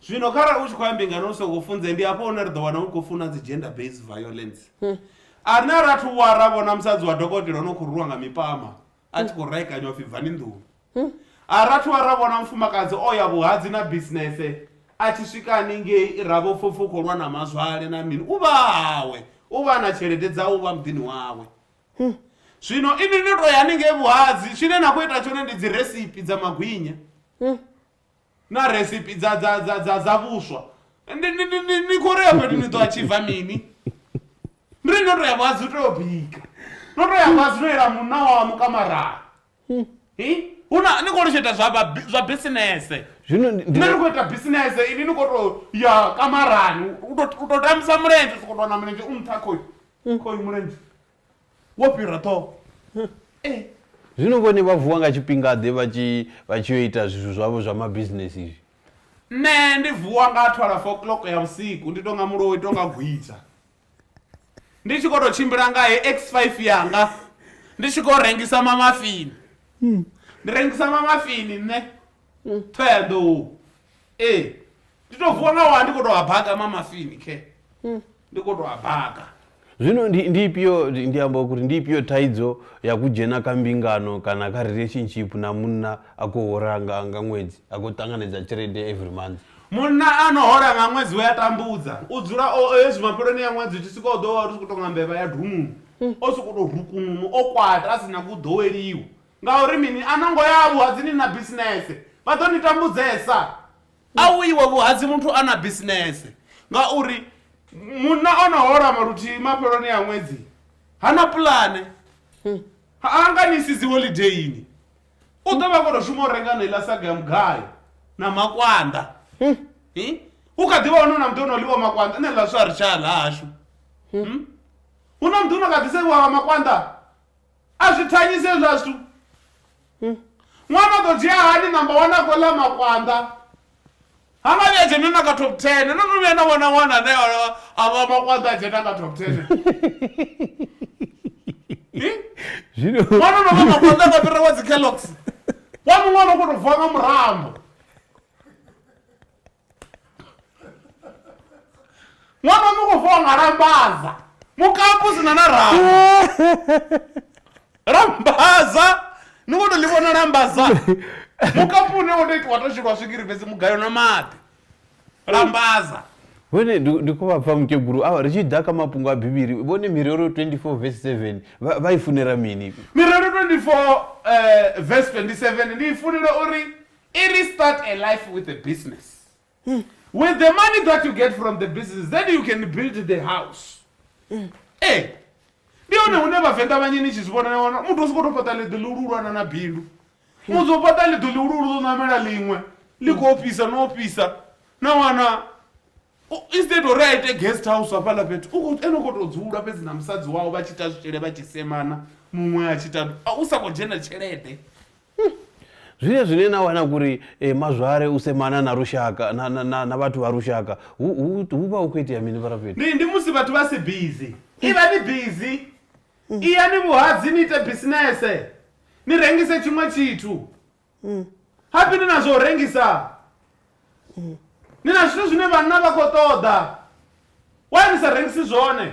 zwino kharali u tshi khou ya mbingano u songo funze ndi hafho hune ri ḓo wana u khou funa dzi gender based violence ane ra thu wa ra vhona musadzi wa dokotela o no khou rulwa nga mipama a tshi khou raekanywa pfhi bvani nḓuni a ra thu wa ra vhona mufumakadzi o ya vhuhadzi na bisinese a tshi swika haningei ra vho pfopfa u khou lwa na mazwale na mini u vha hawe u vha na tshelede dzawe u vha muḓini wawe zwino ini ni to ya haningei vhuhadzi tshine na khou ita tshone ndi dzi recipe dza magwinya na recipe dza dza dza dza dza vhuswa ndi ndi ndi ndi ni khou rea fhethu ni ḓo achiva mini ndi ri no to ya vhadzi to yo bika no to ya vhadzi no yela munna wamu kamarani hi hu na ni khou lutsheta zwa vha bi- zwa bisinese zwino ndi- ndi- nṋe ni khou ita bisinese ini ni khou to ya kamarani u to- u to tambisa mulenzhe u sokou tou wana mulenzhe u nṱha khoyu khoyu mulenzhe wo fhira ṱhoho ee zwino vhone vha vuwa nga tshifhingaḓe vha tshi vha tshi yo ita zwithu zwavho zwa mabisinesi izvi nṋe ndi vuwa nga 12 o'clock ya vhusiku ndi tonga muloi tonga gwidza ndi tshi khou tou tshimbila nga he x5 yanga ndi tshi khou rengisa mamafini ndi rengisa mamafini nṋe thoeḓou ee ndi to vuwa nga wa ndi kho to a baga mamafini khe ndi kho to a baga zwino ndi ndi ifhio ndi ndi amba uri ndi ifhio thaidzo ya ku dzhena kha mbingano kana kha relationship na munna a khou hola nga nga ṅwedzi a khou ṱanganedza tshelede every month munna a no hola nga ṅwedzi we a tambudza u dzula o o hezwi mafheloni ya ṅwedzi u tshi swika u ḓo wa ri tshi khou tonga mbevha ya dumuni o sokou tou rukununu o kwata a si nyagi u ḓoweliwa Ngauri mini? A no ngo ya vhuhadzini na bisinese, vha ḓo ni tambudzesa. A u iwe vhuhadzi muthu a na bisinese, ngauri munna o no hola luthihi mafheloni a ṅwedzi ha na pulane, ha nga ni isi dzi holideini. U ḓo vha a khou tou shuma u renga heneiḽa saga ya mugayo na makwanda. Hu kha ḓi vha hone hu na muḓi o no ḽiwa makwanda, nṋe ḽa vhuswa a ri tsha a ḽa hashu. Hu na muḓi u no kha ḓi sevhiwa nga makwanda. a zwi thanyise hezwa zwithu hmm. ṅwana ḓo dzhia hani namba wana a khou ḽa makwanḓa ha nga vhuya dzhena na ka top ten no no vhuya na vhona ṅwana ane a vha makwanḓa a dzhena nga top ten zwino wana no vhona khonda nga fhira wa dzi kellogs wa muṅwe no kono vuwa nga murambo ṅwana mu khou fona lambaza mukapu sina na rama lambaza ni khou to ḽi vhona lambaza mukapu une wo to itiwa to shilwa swigiri fhedzi mugayo na maḓi lambaza vhone ndi khou vha pfa mukegulu awa ri tshi ḓa kha mafhungo a bivhili vhone mirero 24 vs 7 vha i funela mini mirero 24 vs 27 ndi i funela uri I ri start a life with a business. Mm. With the money that you get from the business, then you can build the house. Mm. Hey, eh, ndi hone hune vhavenḓa vhanye ni tshi zwi vhona wana muthu u sokoto fhaṱa ḽiḓi lihululwana na bindu hmm. muthu o fhaṱa ḽiḓi lihululu ḽo ṋamela ḽiṅwe ḽi hmm. khou fhisa no fhisa na wana instead uri a ite guest house hafhaḽa fhethu ene u khou tou dzula fhedzi na musadzi wawo vha tshi ita zwitshele vha tshi semana muṅwe a tshi ita u sa khou dzhena tshelede Umm zvine zvine na wana kuri e mazware u semana na rushaka na na na na vhathu vha rushaka hu hu hu vha hu kho itea mini vharafheli. Ndi ndi musi vhathu vha si busy. Ivhani busy. Iyani vhuhadzi ni ite bisinese. Ni rengise tshiṅwe tshithu. Hafhi ni na zwa u rengisa. Ni na zwithu zwine vhanna vha khou ṱoḓa. Why ni sa rengisi zwone?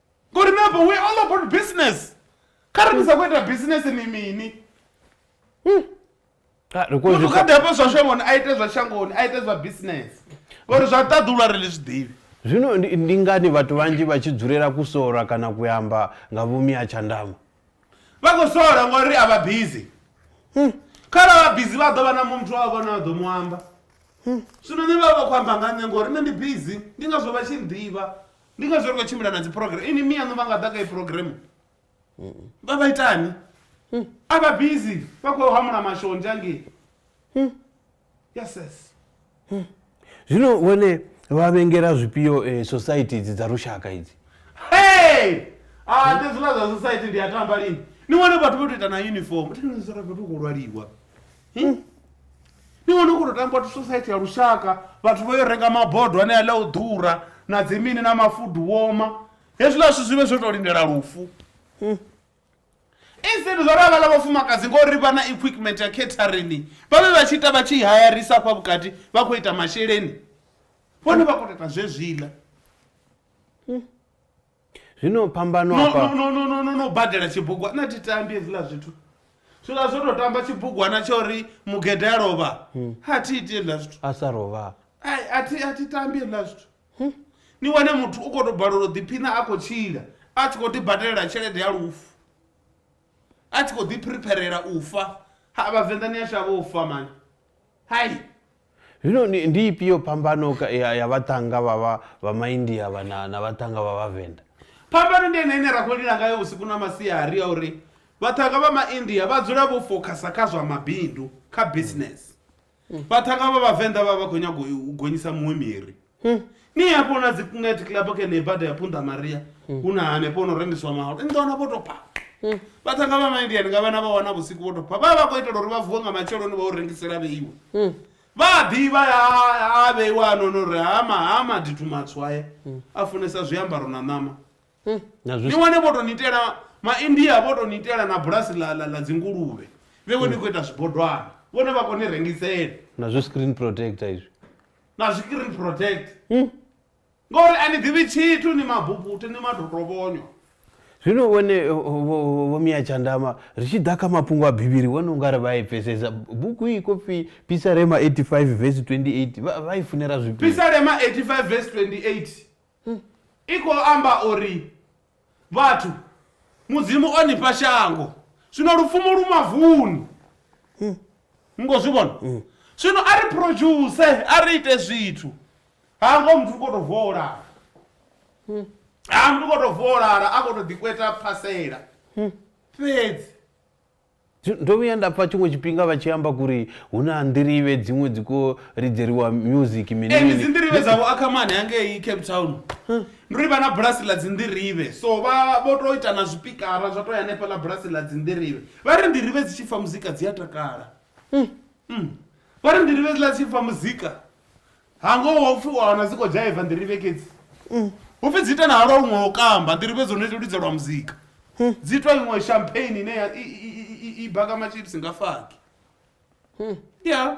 ngori napa we all about business kha ri ndisa kuita business ni mini hmm. ah, muthu kha dapa zwa shangoni a ite zwa shangoni a ite zwa business ngori zwa ṱaḓulwa ri li zwi ḓivhi zwino ndi ngani vhathu vhanzhi vha tshi dzulela ku sola kana ku amba nga vhumi ha tshandama vha khou sola ngori a vha busy hmm. khala vha busy vha ḓo vha na muthu wa vhona vha ḓo mu amba hmm. zwino ni vha vha khou amba nga nṋe ngori nṋe ndi busy ndi ngazwo vha tshi nḓivha ndi ngazwo ri khou tshimbila na dziprogram ini miyaṋu vha nga ḓa kha i program vha vha itani hmm. a vha busy vha khou hamula mashonzha ngei hmm. yeses hmm. zwino vhone vha vhengela zwifhio eh, society idzi dza lushaka idzi hey a ah, ndi zwiḽa zwa society ndi a tamba lini ni wane vhathu vho to ita na uniform tinizoravethu khou lwaliwa Hmm? ni wana u khou tou tamba society ya lushaka vhathu vho yo renga mabodo ane aḽa u ḓura na dzi mini na mafudu woma hezwiḽa zwithu zwi vhe zwo tou lindela lufu Hmm? instead zwa ravha ḽa vhafumakadzi ngori vha na equipment ya catering vha vhe vha tshi ita vha tshi hayarisa afha vhukati vha khou ita masheleni vhone vha khou tou ita zwezwiḽa Zwino phambano No, hafha. no, no, no, no, no badela tshibugwana thi tambi hezwiḽa zwithu zwiḽa zwo tou tamba tshibugwana tsha uri mugede a lovha ha thi iti hezwiḽa zwithu A sa rovha. Ai, a thi a thi tambi hezwiḽa zwithu ni wane muthu u khou tou balelwa u ḓiphina a khou tshila a tshi khou ḓi badelela tshelede ya lufu a tshi khou ḓi phiripherela u fa ha vhavenḓa ni a shavha u fa mani Hai! Zwino ndi, ndi ifhio phambano ka- ya, ya vhaṱhannga vha vha vha maindia vha na, na vhaṱhannga vha vhavenḓa phambano ndi ene ine ra khou lila ngayo vhusiku na masiari ya uri vhaṱhanga vha maindia vha dzula vho fokhasa kha zwa mabindu kha business vhaṱhanga vha vhavenḓa vha vha khou nyanga u gonyisa muṅwe miri ni hafho na dzi net club khe nei bada ya punta maria hu na hanefho no rengiswa mahalo ni ḓo wana vho tou pha vhathanga vha maindiani nga vhana vha wana vhusiku vho tou pha vha vha khou itela uri vha vuwe nga matsheloni vha u rengisela vheiwe vha a ḓivha a- a vheiwa hanono uri hama hama dithu matswu aya a funesa zwiambaro na ṋama na ni zwi wane vho tou ni itela maindia vho tou ni itela na bulasi ḽa ḽa- ḽa dzinguluvhe vhewe ni khou ita zwibodwana vhone vha khou ni rengisela na zwi screen protector izwi na zwikiri protect hmm? ngori a ni ḓivhi tshithu ni mabubuthe ni madotobonyo zwino wone vhomiya tshandama ri tshi ḓa kha mafhungo a bivhili wone u nga ri vha i pfesesa buku i kofi pisarema 85 vesi 28 vha i funela zwipii pisarema 85 vesi 28 hmm. i khou amba uri Vhathu, Mudzimu o ni fha shango, zwino lupfumo lu mavuni. Ni khou zwi vhona? Zwino a ri phurodzhuse, a ri ite zwithu. Ha ngo muthu u khou tou vuwa o lala. Ha muthu u khou tou vuwa o lala, a khou tou ḓikweta phasela fhedzi. Ndo vhuya nda pfa tshiṅwe tshifhinga vha tshi amba kuri hu na nḓirivhe dziṅwe dzi kho ridzeriwa music mini mini. Ee dzi nḓirivhe dza vho Ackerman hangei Cape Town. Ndi uri vha na bulasi ḽa dzi nḓirivhe so vha vho to ita na zwipikara zwa to ya hanefha ḽa bulasi ḽa dzi nḓirivhe. Vha ri nḓirivhe dzi tshi pfa muzika dzi a takala. Vha ri nḓirivhe dzi ḽa dzi tshi pfa muzika. hangoho wa upfi u a wana dzi khou dzhaiva nḓirivhe kedzi hu pfi dzi ita na halwa huṅwe ho kamba nḓirivhe dzo no ita lidzelwa muzika dzi itwa iṅwe champagne ine ya- i- i- i- i- i baka machips nga faki ya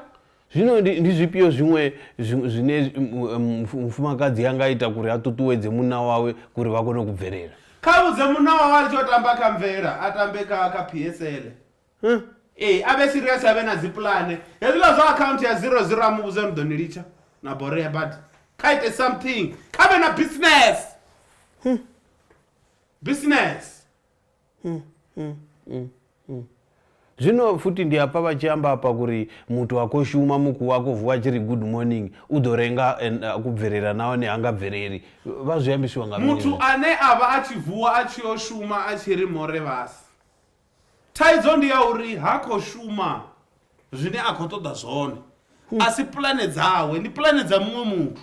zwino ndi ndi zwifhio zwiṅwe zwi- zwine zwi- mu- em, mfu- mufumakadzi a nga ita kuri a ṱuṱuwedze munna wawe kuri vha kone ku bvelela kha vhudze munna wawe a tshi o tamba kha mvela a tambe kha kha psl Huh? Ee, a vhe serious a vhe na dzi pulane. Hezwiḽa zwa account ya 00 a mu vhudza uri ḓo ni litsha na borea badi. Kha ite something. Kha vhe na business. Hmm. Business. Hmm. Hmm. Hmm. Hmm. Zwino futhi ndi hafha vha tshi amba hafha kuri muthu a khou shuma mukuwa a khou vuwa tshi ri good morning u ḓo renga a ku bvelela nahone ha nga bveleli vha zwi ambisiwa nga muthu ane a vha a tshi vuwa a tshi yo shuma a tshi ri more vhasi Thaidzo ndi ya uri ha khou shuma zwine a khou ṱoḓa zwone. A si pulane dzawe, ndi pulane dza muṅwe muthu.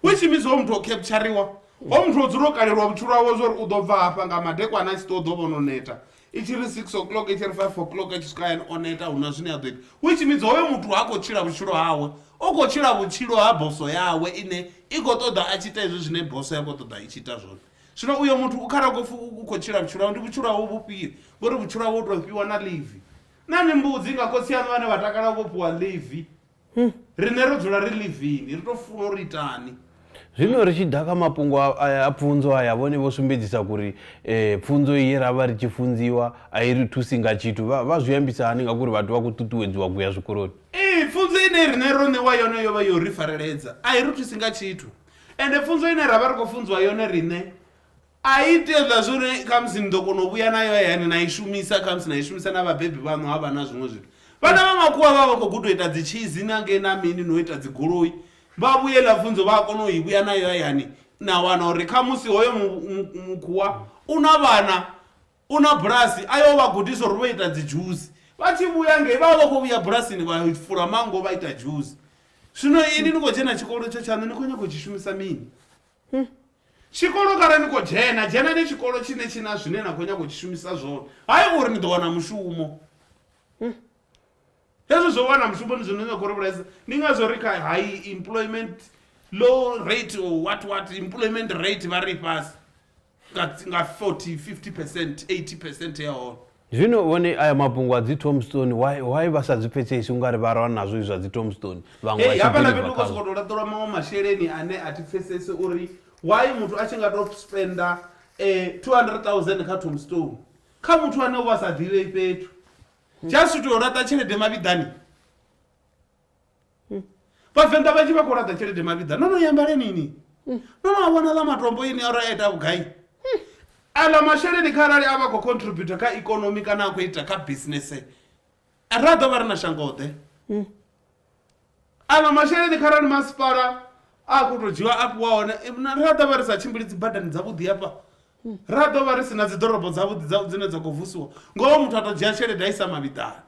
Which means hoyu muthu o kheptshariwa. Hoyu muthu o dzula o kalelwa vhutshilo hawe zwa uri u ḓo bva hafha nga madekwana a tshi ṱuwa u ḓo vha o no neta. I tshi ri six o'clock, i tshi ri five o'clock a tshi swika hayani o neta hu na zwine a ḓo ita. Which means hoyo muthu ha khou tshila vhutshilo hawe, u khou tshila vhutshilo ha bosso yawe ine i khou ṱoḓa a tshi ita hezwi zwine bosso ya khou ṱoḓa i tshi ita zwone. Zwino uyo muthu u kharako pfi u khou tshila vhutshilo hawe, ndi vhutshilo hawe vhufhio? Vho ri, Vhutshilo hawe u tou fhiwa na ḽivi. Na ni mbudzi nga khotsi aṋu vhane vha takala vho fhiwa ḽivi. Riṋe ro dzula ri ḽivini, ri tou funa uri itani. Zwino ri tshi ḓa kha mafhungo a pfunzo aya, vhone vho sumbedzisa kuri pfunzo ye ra vha ri tshi funziwa a i ri thusi nga tshithu. Vha vha zwi ambisa hani ngauri vhathu vha khou ṱuṱuwedziwa ku ya zwikoloni? Ee, pfunzo ine riṋe ro ṋewa yone yo vha yo ri fareledza, a i ri thusi nga tshithu. Ende pfunzo ine ra vha ri khou funziwa yone riṋe a i tea u ḽa zwo uri khamusi ni ḓo kona u vhuya nayo hayani na i shumisa khamusi na i shumisa na vhabebi vhaṋu ha vha na zwiṅwe zwithu vhana vha makhuwa vha vha khou guda u ita dzi tshizi na ngei na mini no ita dzi goloi vha vhuye ḽa pfunzo vha a kona u i vhuya nayo hayani na wana uri khamusi hoyo mukhuwa u na vhana U na bulasi, a yo vha gudisa uri vha ita dzidzhusi. Vha tshi vhuya ngei, vha vha vha khou vhuya bulasini vha fula manngo vha ita dzhusi. Zwino inwi ni khou dzhena tshikolo itsho tshaṋu, ni khou nyaga u tshi shumisa mini? Tshikolo kha re ni khou dzhena, dzhenani tshikolo tshine tshi na zwine na khou nyaga u tshi shumisa zwone, hai uri ni ḓo wana mushumo. Hezwo zwa u wana mushumo ndi zwine na khou ri vhulaisa. Ndi ngazwo ri kha high employment, low rate or what what, employment rate vha ri i fhasi. nga 40 50 percent 80 percent ya hone zwino vhone aya mafhungo a dzi tomstone why why vha sa dzi pfhesesi ungari vha rwa nazwo izwa dzi tomstone vhaṅwe vha hafha na fhethu ko soko to laṱelwa maṅwe masheleni ane a thi pfhesesi uri why muthu a tshi nga to spenda eh 200000 kha tomstone kha muthu ane u vha sa ḓivhe fhethu just to laṱa tshelede mavhiḓani vhavenḓa vhanzhi vha khou laṱa tshelede mavhiḓa no no yambale nini no no a vhona ḽa matombo ini aro a ita vhugai aḽa masheleni kha arali a vha khou contributa kha ikonomi kana a khou ita kha bisinese ra ḓo vha ri na shangoḓe aḽa masheleni kha arali masipala a khou tou dzhiwa a fhiwa hone eh, na- ra ḓo vha ri sa tshimbili dzi badani dzavhuḓi hafha ra ḓo vha ri si na dzi ḓorobo dzavhuḓi dza- dzine dza khou vusiwa ngoho muthu a tou dzhia tshelede a isa mavhiḓani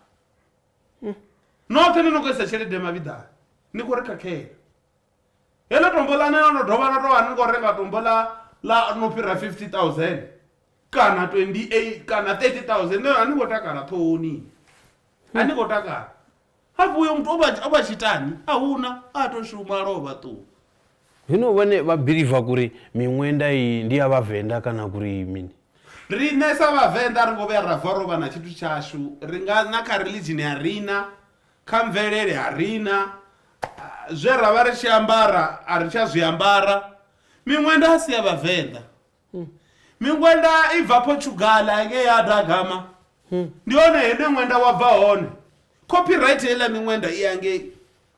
hmm. noṱhe ni no khou isa tshelede mavhiḓani ni khou ri khakhela heḽo tombo ḽa neo no dovha no tou vha ni khou renga tombo ḽa ḽa no fhira 50 000 kana 28 kana 30 000 neo a ni khou takala ṱhohoni a ni khou takala hafho uyo muthu o vha tshitani a huna a to shuma a lovha ṱuwa Hino vhone vha biliva kuri miṅwenda iyi ndi ya vhavenḓa kana kuri mini? Riṋe sa vhavenḓa ri ngo vhuya ra vuwa rovha na tshithu tshashu ri nga na kha religion a rina kha mvelele a rina zwe ra vha ri tshi ambara a ri tsha zwi ambara miṅwenda a si ya vhavenḓa miṅwenda i bva Portugal ngei ya da gama ndi hone hune ṅwenda wa bva hone copyright heiḽa miṅwenda i ya ngei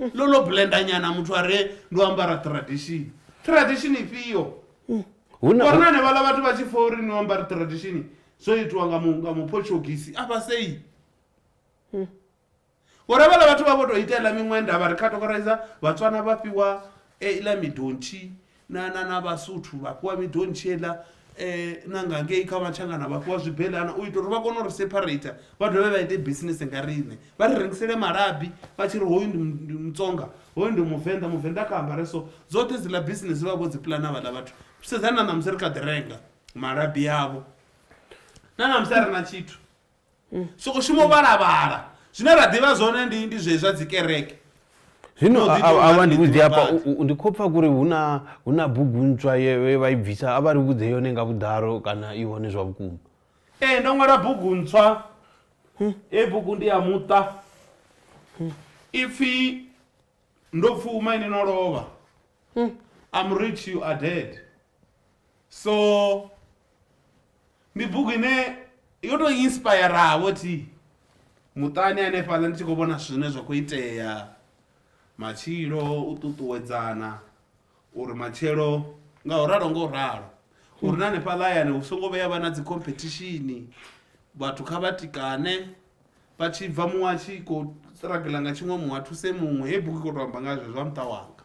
ḽo ḽo blenda nyana muthu a re ndo ambara tradition tradition ifhio mm. vhona hanevhaḽa vhathu vha tshi fa uri ni ambara tradition zwo itiwa nga nga mupotshogisi a fha sei mm. vhona vhaḽa vhathu vha vho tou ita iḽa miṅwenda vha ri categorize vhatswana vha fhiwa eh, iḽa midontshi na na na vhasuthu vha fhiwa midontshela um na nga ngei kha matshangana vha fhiwa zwibelana u ita uri vha kone u ri separater vha dovhe vha ite bisinese nga riṋe vha ri rengisele malabi vha tshi ri hoyu ndi mu- ndi mutsonga hoyu ndi muvenḓa muvenḓa kha ambare so dzoṱhe dziḽa bisinese vha vho dzi pulana vhaḽa vhathu sedzani na ṋamusi ri kha ḓi renga malabi avho na ṋamusi a re na tshithu mm. soko shumo vhalavhala zwine ra ḓivha zwone ndi ndi zwezwa dzi kereke zwino avha ndi vhudze hafha ndi khou pfa kuri huna huna bugu ntswa ye vha i bvisa a vha ri vhudze yone nga vhuḓalo kana i hone zwa vhukuma ee ndo ṅwala bugu ntswa hmm. e bugu ndi ya muṱa hmm. ipfhi ndo pfuma ine no lovha hmm. am rich you are dead so ndi bugu ine yo tou inspiravo thi muṱani hanefhaḽa ndi tshi khou vhona zwithu zwine zwa khou itea matshilo u ṱuṱuwedzana uri matshelo nga u ralo nga u ralo uri na hanefhaḽa hayani hu songo vheya vha na dzi competition vhathu kha vha tikane vha tshi bva muṅwe a tshi khou struggle nga tshiṅwe muṅwe a thuse muṅwe heyi bugu i khou tou amba nga zwezwo zwa muṱa wanga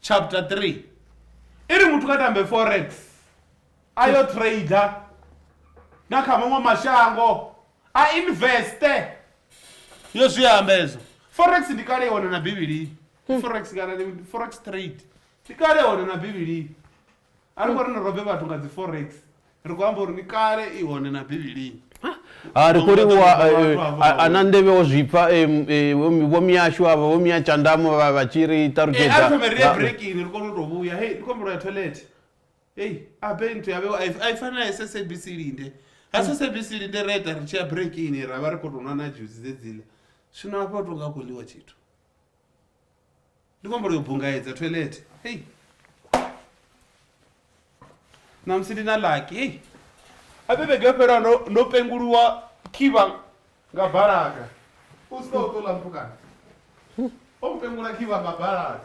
chapter 3 i ri muthu kha tambe forex a yo trader nga kha maṅwe mashango a investe yo zwi amba ezwo forex ndi kale i hone na bivhilini forex kana ndi forex trade ndi kale hone na bivhilini A ri khou ri ni robe vhathu nga dzi forex. Ri khou amba uri ni kale i hone na Bivhilini. Ha ri khou ri wa a na nḓevhe wo zwipfa vho miyashu avha vho miya tshandamo vha vha tshi ri ṱalutshedza. Ee a ri thome ri ye breakini ri kone u tou vhuya. Hei ndi khou humbula ya toilet. Hei a be nthu ya vhewa a i fani na SABC linde. Ha SABC linde ra ita ri tshi ya breakini ra vha ri khou tou nwa na dzhusi dzedziḽa. Zwino hafha ho tou nga hu khou ḽiwa tshithu. ndi khou humbela u bungaedza toilet hei namusi ndi na laki hei ape vhege yo fhelaho ndo- ndo penguluwa khivha nga balaga u sika u ṱola mpukana o mpengula khivha nga balaga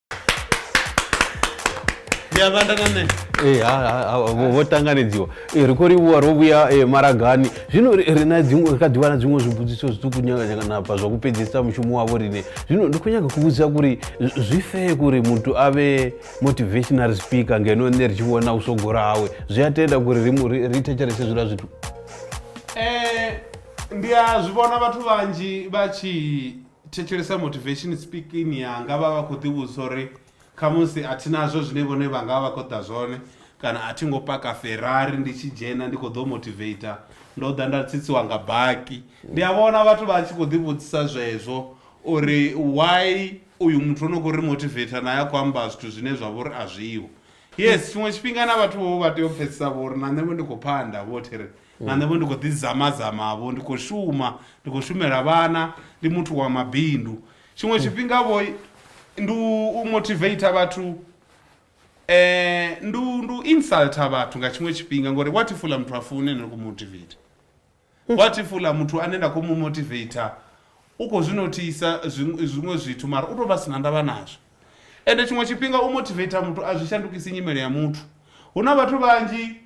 ndiyavanda na nṋe Eh, ha- ha- ha- vho vho ṱanganedziwa Eh, ri khou livhuwa ro vhuya eh, maragani zwino ri ri na dziṅwe- ri kha ḓivha na dziṅwe zwibudziso zwiṱuku nyaganyaganapa zwa ku pedzisa mushumo wavho riṋe zwino ndi khou nyaga ku vhudzisa kuri z- zwi fee kuri muthu a vhe motivational speaker ngeno nṋe ri tshi vhona u sogora hawe zwi a tenda kuri ri mu- ri ri thetshelese zwiḽa zwithu Eh, ndi a zwi vhona vhathu vhanzhi vha tshi thetshelesa motivation speaking yanga vha vha khou ḓivhudzisa uri khamusi a thi nazwo zwine vhone vha nga vha khou ḓa zwone kana a thi ngo paka ferrari ndi tshi dzhena ndi khou ḓo motivator ndo ḓa nda tsitsiwa nga baki ndi a vhona vhathu vha tshi khou ḓivhudzisa zwezwo uri why uyu muthu o no khou ri motivator naye a khou amba zwithu zwine zwa vha uri a zwiho yes tshiṅwe tshifhinga na vhathu vho vha tea u pfhesesa vho uri na nṋe vho ndi khou phanda vho thi ri na nṋe vho ndi khou ḓi zamazama vho ndi khou shuma ndi khou shumela vhana ndi muthu wa mabindu tshiṅwe tshifhinga vho ndi u motivator vhathu um ndi u- ndi u insulta vhathu nga tshiṅwe tshifhinga ngori what if uḽa muthu a fune ndi khou motivator what if uḽa muthu ane nda khou mu motivator u khou zwi nothisa zwiṅwe zwiṅwe zwithu mara u tou vha sina ndavha nazwo ende tshiṅwe tshifhinga u motivator muthu a zwi shandukisi nyimele ya muthu hu na vhathu vhanzhi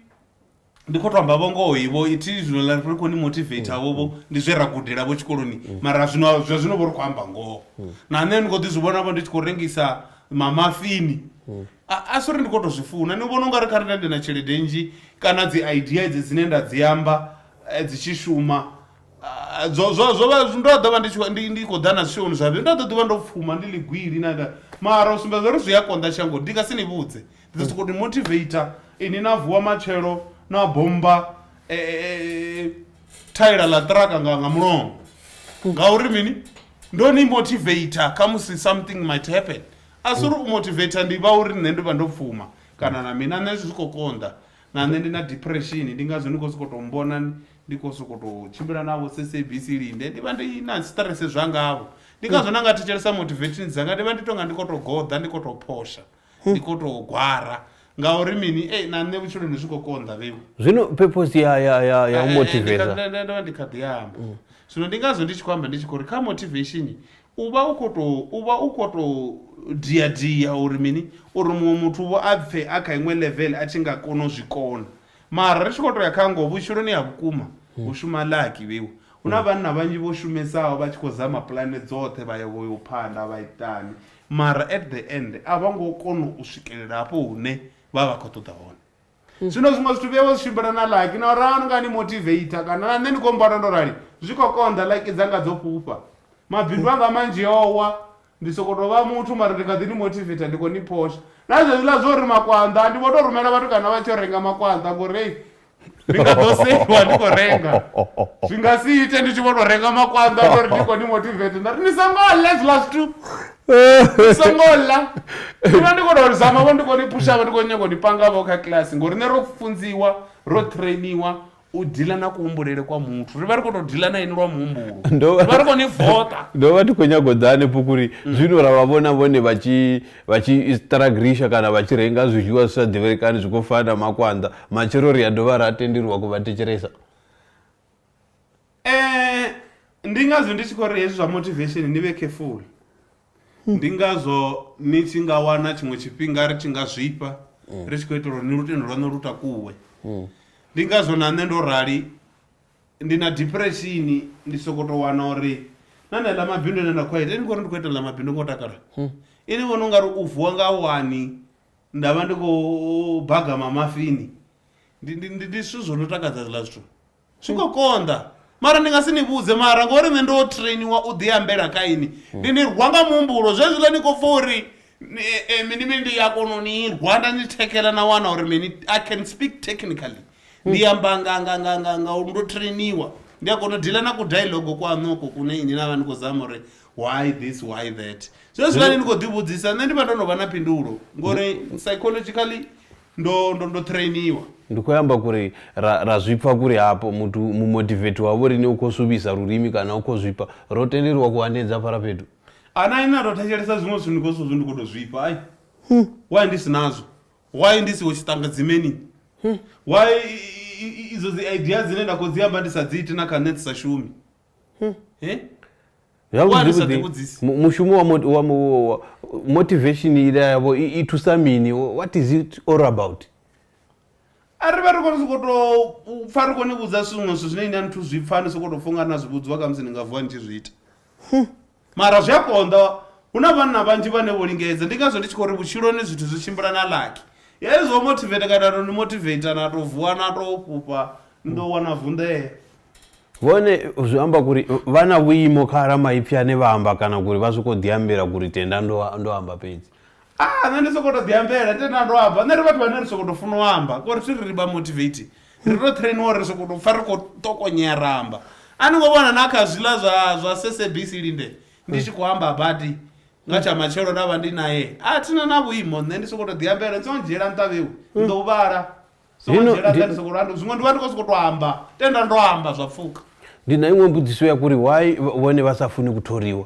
ndi kho to amba vho ngoho vho ithi zwino la ri khou ni motivate vho vho ndi zwe ra gudela vho tshikoloni mara zwino zwa zwino vho ri khou amba ngoho na nṋe ndi kho ḓi zwi vhona vho ndi tshi khou rengisa mamafini a a sori ndi kho to zwi funa ni vhona ungari kha renda ndi na tshelede nnzhi kana dzi idea edzi dzine nda dzi amba eh, dzi tshi shuma ah, zwo zwo zwo vha ndo ḓo vha ndi tshi khou- ndi ndi khou ḓa na zwishoni zwa vhe ndo ḓo ḓi vha ndo pfuma ndi ligwili na na- mara u sumbedza uri zwi a konḓa shango ndi nga si ni vhudze Ndi sokou ni motivator inwi na vuwa matshelo na bommba thaela ḽa ṱiraka nga nga mulomo ngauri mini ndo ni motivator khamusi something might happen a si uri u motivator ndi vha uri nṋe ndi vha ndo pfuma kana na mina nṋe zwi khou konḓa na nṋe ndi na depression ndi ngazwo ni khou sokou tou mbona ndi khou sokou tou tshimbila navho sabc linde ndi vha ndi na stress zwangavho ndi ngazwo na nga thetshelesa motivations dzanga ndi vha ndi tonga ndi khou tou goḓa ndi khou tou phosha Ni khou tou gwara. Ngauri mini? Ei, na nṋe vhutshiloni zwi khou konḓa, Vhewu. Zwino purpose ya, ya, ya, ya u Eh, eh, eh, ndi kha- motiveza. nda- nda- nda vha ndi kha ḓi amba. Zwino ndi ngazwo ndi tshi khou amba ndi tshi khou ri kha motivation u vha u khou tou u vha u khou tou dia dia uri mini uri muṅwe muthu vho a pfhe a kha iṅwe level a tshi nga kona u zwi kona. Mara ri tshi khou tou ya kha ngoho vhutshiloni ha vhukuma hu shuma laki, Vhewu. Hu na vhanna vhanzhi vho shumesaho vha tshi khou zama pulane dzoṱhe vha ya vho yo phanḓa vha itani. Mara at the end a vho ngo kona u swikelela hafho hune vha vha khou ṱoḓa hone. Zwino zwiṅwe zwithu vhuya vha zwi tshimbila na like na uri anu nga ni motivator kana na nṋe ni khou mmbona ndo rali zwi khou konḓa like dzanga dzo fhufha. Mabindu anga manzhi o wa, ndi sokou tou vha muthu mara ndi kha ḓi ni motivator ndi khou ni phosha. Na zwezwiḽa zwa uri makwanḓa ndi vho tou rumela vhatukana vha tshi yo renga makwanḓa ngori hei ndi nga ḓo seiwa ndi khou renga zwi nga si ite ndi tshi vho tou renga makwanḓa uri ndi khou ni motivate nda ri ni songo ḽa zwiḽa zwithu ni songo ḽa ina ndi khou tou zama vho ndi khou ni pushava ndi khou nyanga u ni pangavho kha kiḽasi ngori nṋe ro funziwa ro trainiwa u dila na kuhumbulele kwa muthu ri vha ri khou tou dila na ini lwa muhumbulo ri vha ri khou ni voṱa ndo vha ndi khou nyago ḓa hanefho kuri zwino ra vha vhona vhone vha tshi vha tshi stragrisha kana vha tshi renga zwiḽiwa zwi sa ḓivhelekani zwi khou fana na makwanḓa matshelo ri a dovha ra tendeliwa ku vha thetshelesa Eh, ndi ngazwo ndi tshi khou ri hezwi zwa motivation ni vhe careful ndi ngazwo ni tshi nga wana tshiṅwe tshifhinga ri tshi nga zwifha ri tshi khou itela uri ni lutendo lwaṋu lu takuwe ndi ngazwo na nṋe ndo rali Ndi na depression ndi soko to wana uri na na ḽa mabindu ane nda khou ita ndi ngori ndi khou ita ḽa mabindu ngo takala ini vhona ungari u vuwa nga wani nda vha ndi khou baga ma mafini ndi ndi ndi ndi zwithu zwo no takadza zwiḽa zwithu zwi khou konḓa mara ndi nga si ni vhudze mara ngori nṋe ndo trainiwa u ḓi ambela kha ini ndi ni rwa nga muhumbulo zwezwiḽa ni khou pfa uri mini mini ndi a kona u ni rwa nda ni thekhela na wana uri mini i can speak technically ndi amba nga nga nga nga nga uri ndo trainiwa ndi a kona u dila na ku dialogue kwaṋu oko kune ini na vha ni khou zama uri why this why that so hezwiḽani ni khou ḓivhudzisa nṋe ndi vha ndo no vha na phindulo ngori psychologically ndo ndo ndo trainiwa ndi khou amba kuri ra, ra zwipfa kuri hapo muthu mumotivate wavo rini u khou suvhisa lurimi kana u khou zwipfa ro tenderiwa ku hanedza fara fhethu ana ina ndo thetshelesa zwiṅwe zwithu ndi khou zwithu ndi khou to zwipfa ai why ndi si nazwo why ndi siho tshiṱangadzimeni hmm. why idzo dzi idea dzine nda khou dzi amba ndi sa dzi iti na kha nṋe dzi sa shumi hmm. eh? mushumo wa motivation ila yavo i thusa mini what is it all about a ri vha ri kone soko to pfa ri kone vhudza zwiṅwe zwithu zwine ine a nithu zwi pfa ni soko to funga na zwi vhudziwa kha musi ni nga vuwa ni tshi zwi ita hmm. Mara zwi a konḓa, hu na vhanna vhanzhi vhane vho lingedza. Ndi ngazwo ndi tshi khou ri vhutshiloni zwithu zwi tshimbila nga lucky. Hezwi zwa u motivate kana no ni motivate na tou vuwa na tou fhufha ni ḓo wana vunḓea. Hone zwi amba kuri vha na vhuimo kha ramaipfi ane vha amba kana kuri vha swika u ḓiambela kuri tenda ndo amba fhedzi. Ah, nṋe ndi sokou tou ḓiambela ndi tenda ndo amba nṋe ri vhathu vhane ri sokou tou funa u amba ngori thi ri ri vha motivate ri tou trainiwa uri ri sokou tou pfha ri khou tokonyea ra amba a ni ngo vhona na kha zwiḽa zwa zwa sabc linde ndi tshi khou amba badi nga tsha matshelo nda vha ndi naye a thina na vhuimo nṋe ndi sokou tou ḓiambela ni songo dzhiela nṱha vheu ni ḓo u vhala songo Dino, dzhiela nṱha Dino. ni sokou landa zwiṅwe ndi vha ndi khou sokou tou amba tenda ndo amba zwa pfuka ndi na iṅwe mbudziso ya kuri why vhone vha sa funi ku thoriwa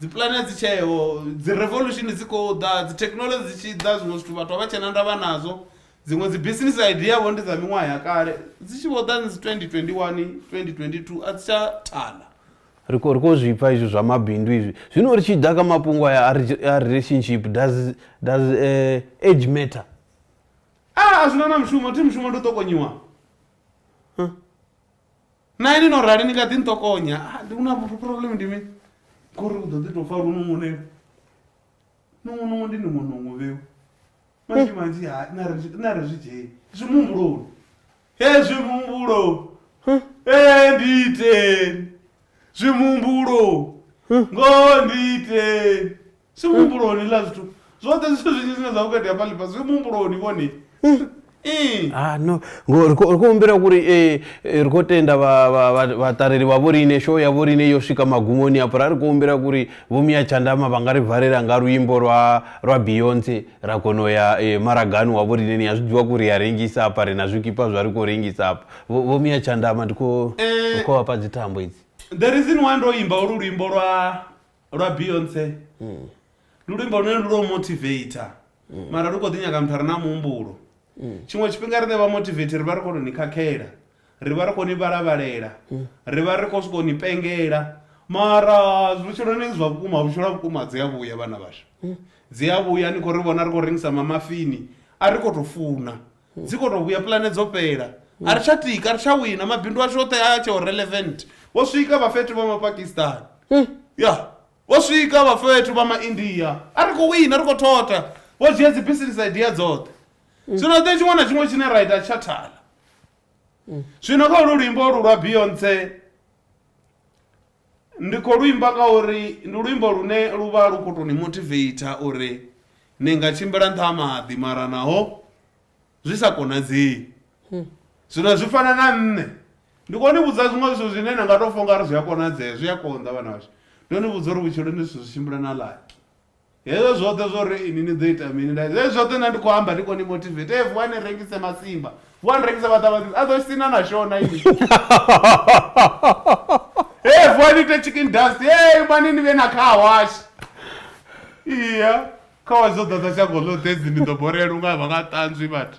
dzipulane dzi tsheho dzi revolution dzi khou ḓa dzi technology dzi tshi ḓa zwiṅwe zwithu vhathu a vha tshena ndavha nazwo dziṅwe dzi business idea vho ndi dza miṅwaha ya kale dzi tshi vho ḓa ni 2021 2022 a dzi tsha thala ri khou ri khou zwi pfa izwi zwa mabindu izwi zwino ri tshi ḓa kha mafhungo aya a re- a relationship does does eh, age matter a a zwi na na mushumo thi mushumo ndi u ṱokonyiwa na ini no rali ni kha ḓi nṱokonya ah, ndi una problem ndi mini ngori u ḓo ḓi tou fa lununguneo nungunungu ndi nungunungu vheu manzhi manzhi ha na ri zwi dzhei zwi muhumbuloni hezwi muhumbulo e ndiiteni zwi muhumbulo ngoho ndiiteni zwi muhumbuloni la zwithu zwoṱhe zwithu zwinzhi zwine zwa vhukati hafha ḽifha zwi muhumbuloni vhone ee Ah no, ngo ri khou ri khou humbela uri eh, eh, ri khou tenda vha- vha- vha- vhaṱaleli vha vho riṋe show ya vho riṋe yo swika magumoni hafho ra ri khou humbela uri vho Mia Tshandama vha nga ri valela nga luimbo lwa lwa Beyonce ra kona u ya eh, maragani wa vho riṋe ni a zwi ḓivha kuri ya rengisa hafha ri na zwikipa zwa ri khou rengisa hafha vho vho Mia Tshandama ndi khou Eh. ndi khou vhafha dzithambo idzi the reason why ndo imba olu luimbo lwa lwa beyonce mm. lulimbo lune lu lwo motivator mm. mara lu kho ḓi nyaga muthu a re na muhumbulo mm. tshiṅwe tshifhinga ri ne vha motivator ri vha ri khou tou ni khakhela ri vha ri khou ni vhalavhalela mm. ri vha ri khou sokou ni pengela mara vhutshiloni zwa vhukuma vhutshilo vhukuma dzi a vhuya vhana vhashu mm. dzi a vhuya ni khou ri vhona ri khou rengisa mamafini a ri khou tou funa dzi kho to vhuya pulane dzo fhela a ri tsha tika a ri tsha wina mabindu ashu oṱhe a tsheo relevant vho swika vha fhethu vha mapakistan ya vho swika vha fhethu vha maindia a ri khou wina ri khou thotha vho dzhia dzi business idea dzoṱhe zwino ḓe tshiṅwe na tshiṅwe tshine ra ita tsha thala zwino kha ulu luimbo olu lwa beyonce Ndi khou lu imba ngauri ndi luimbo lune lu vha lu khou tou ni motiveitha uri ni nga tshimbila nṱha ha maḓi mara naho zwi sa konadzei. Zwino zwi fana na nṋe, ndi khou ni vhudza zwiṅwe zwithu zwine na nga tou pfha u nga ri zwi a konadzea, zwi a konḓa vhana vhashu. Ndo ni vhudza uri vhutshilo ndi zwithu zwi tshimbila na luck. Hezwo zwoṱhe zwo ri ini ni ḓo ita mini na hezwi zwoṱhe na ndi khou amba ndi khou ni motivate e vuwa ni rengise masimba vuwa ni rengise maṱamaṱisi a ḓo sina na shona ini e vuwa ni ite chicken dust e mani ni vhe na khawashi iya khawashi dzo ḓadza shango ḽoṱhe dzi ni ḓo borela unga vha nga ṱanzwi vhathu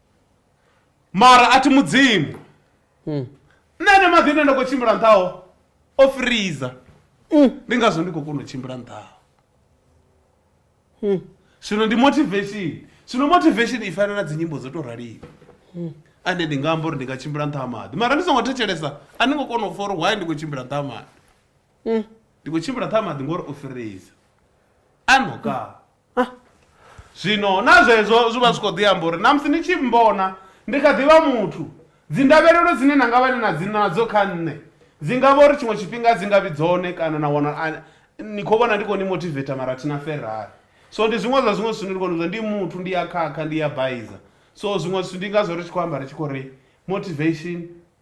mara a thi mudzimu hmm. nṋe ne maḓi ine nda khou tshimbila nṱhaho o friza hmm. ndi ngazwo ndi khou kona u tshimbila nṱhaho hmm. zwino ndi motivation zwino motivation i fanela dzi nyimbo dzo tou raliwa ande ndi nga amba uri ndi nga tshimbila nṱha ha maḓi mara ndi songo thetshelesa a ni ngo kona u fa uri why ndi khou tshimbila nṱha ha maḓi ndi khou tshimbila nṱha ha maḓi ngori o friza a nokaa Zwino na zwezwo zwi vha zwi khou ḓi amba uri na musi ni tshi mmbona ndi kha ḓi vha muthu, dzindavhelelo dzine na nga vha ni na dzi nadzo kha nṋe dzi nga vha uri tshiṅwe tshifhinga a dzi nga vhi dzone kana na wana a ni khou vhona ndi khou ni motivetha mara thi na Ferrari. So ndi zwiṅwe zwa zwiṅwe zwithu zwine ndi khou ni vhudza, ndi muthu, ndi a khakha, ndi a baiza. So zwiṅwe zwithu ndi ngazwo ri tshi khou amba ri tshi khou ri motivation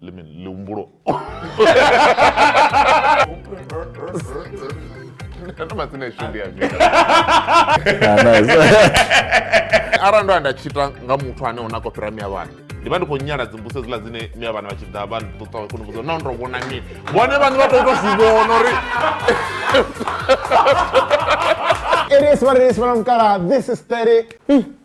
let me lumbro. arali ndo a nda tshita nga muthu ane ona ko fhira miya vhana ndi vha ndi khou nyala dzimbuso dzila dzine miya vhana vha tshi ḓa vha ṱuṱa kho nivhudza na ndo vhona mini vhone vhane vha tou to zwi vhona uri It is what it is, but I'm gonna. This is 30.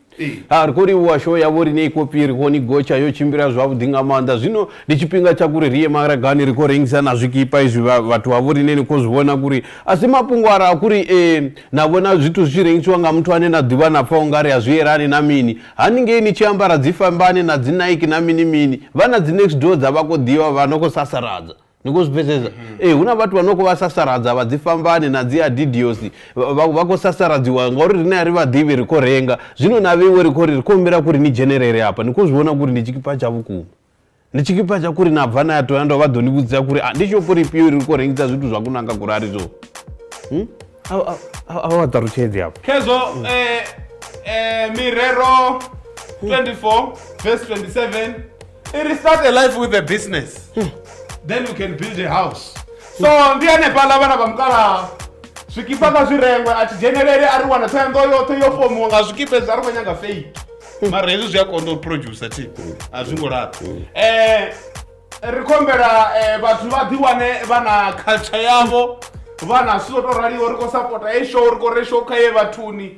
Ha ri khou livhuwa show ya vho riṋe i khou pfi ri khou ni gotsha yo tshimbila zwavhuḓi nga maanḓa zwino ndi tshifhinga tsha kuri ri ye maragani ri khou rengisa na zwikipa izwi vhathu vha vho riṋe ni khou zwi vhona kuri a si mafhungo ara a kuri na vhona zwithu zwi tshi rengisiwa nga muthu ane na ḓivha na pfha u nga ri a zwi yelani na mini haningei ni tshi ambara dzi fambane na dzi Nike na mini mini vha na dzi next door dza vha khou ḓivha vha no khou sasaladza ni khou zwi pfesesa mhm. ee eh, hu na vhathu vha no khou vha sasaradza vha dzi fambani na dzi adidiosi vha khou sasaradziwa ngauri rine a ri vhaḓivhi ri khou renga zwino na vheiwe ri khou ri ri khou humbela kuri ni dzhenelele hafha ni khou zwi vhona kuri ndi tshikipa tsha vhukuma ndi tshikipa tsha kuri na bva na ya toya ndo vha ḓo ni vhudzisa kuri ah, ndi shopho lifhio ri khou rengisa zwithu zwa kunanga kuri a ri zwo hmm? a vha ṱalutshedzi hafho khezwo hmm. eh, eh, mirero 24 vs 27 It is start a life with a business. Hmm. Then you can build a house. So ndi hanefhaḽa vhana vha mukalaha zwikipa nga zwi rengwe a thi dzhenelele a ri wana thoyanḓo yoṱhe yo fomiwa nga zwikipa ezwi a ri khou nyanga fake hmm. mara hezwi zwi a konḓa u producer thi a zwi ngo laṱa um eh, ri khou humbela eh, vhathu vha ḓi wane vha na culture yavho vha na zwithu zwo tou raliho ri khou sapota ye show ri khou re show kha ye vhathuni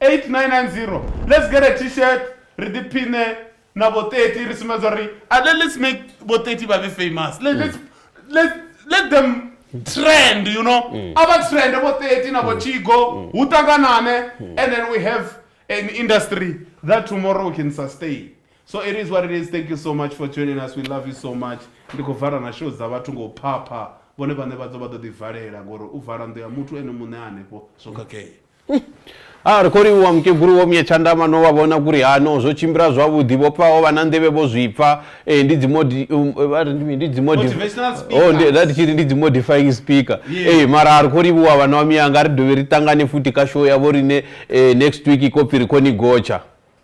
8990 Let's get a t-shirt ri ḓi phiṋe na vho 30 ri sumbedza uri a le- let's make vho 30 vha vhe famous let, let's, let, let them trend you know a vha trende vho 30 na vho chigo hu ṱanganane and then we have an industry that tomorrow we can sustain so it is what it is thank you so much for joining us we love you so much ndi khou vala na show dza vhathu ngo phapha vhone vhane vha ḓo vha ḓo ḓivalela ngori u vala ndo ya muthu ene muṋe hanefho zwo khakhea A ri khou livhuwa Mukegulu Vho Mye Tshandama no vha vhona kuri hano zwo tshimbila zwavhuḓi vho pfa ho vha na nḓevhe vho zwi pfa eh, ndi dzi modi um, eh, vha ri ndi mini? ndi dzi modi Motivational oh speaker. ndi nda ndi tshi ri ndi dzi modifying speaker Yeah. eh mara a ri khou livhuwa vhana vha miyanga ri dovhe ri ṱangane futhi kha show yavho rine eh, next week i khou pfi ri khou ni gotsha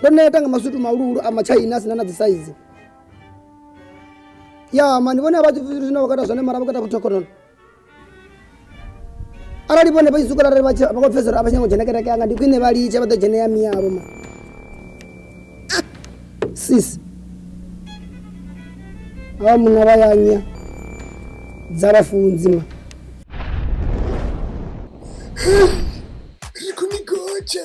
ndo neta nga maswito mahuluhulu a matshaina a sina na dzisaizi ya mani vhone a vha zwithu zwine vha kata zwone mara vha kata vhuthokhonono arali vhone vha tshi swikela arali vha tshi- vha khou pfesa uri a vha tsha ngo dzhena kereke yanga ndi khwine vha litshe vha ḓo dzhene ya miyavho ma Ah, sis ava munna vha yanya dza vhafunzi ma Ri khou ni gotsha.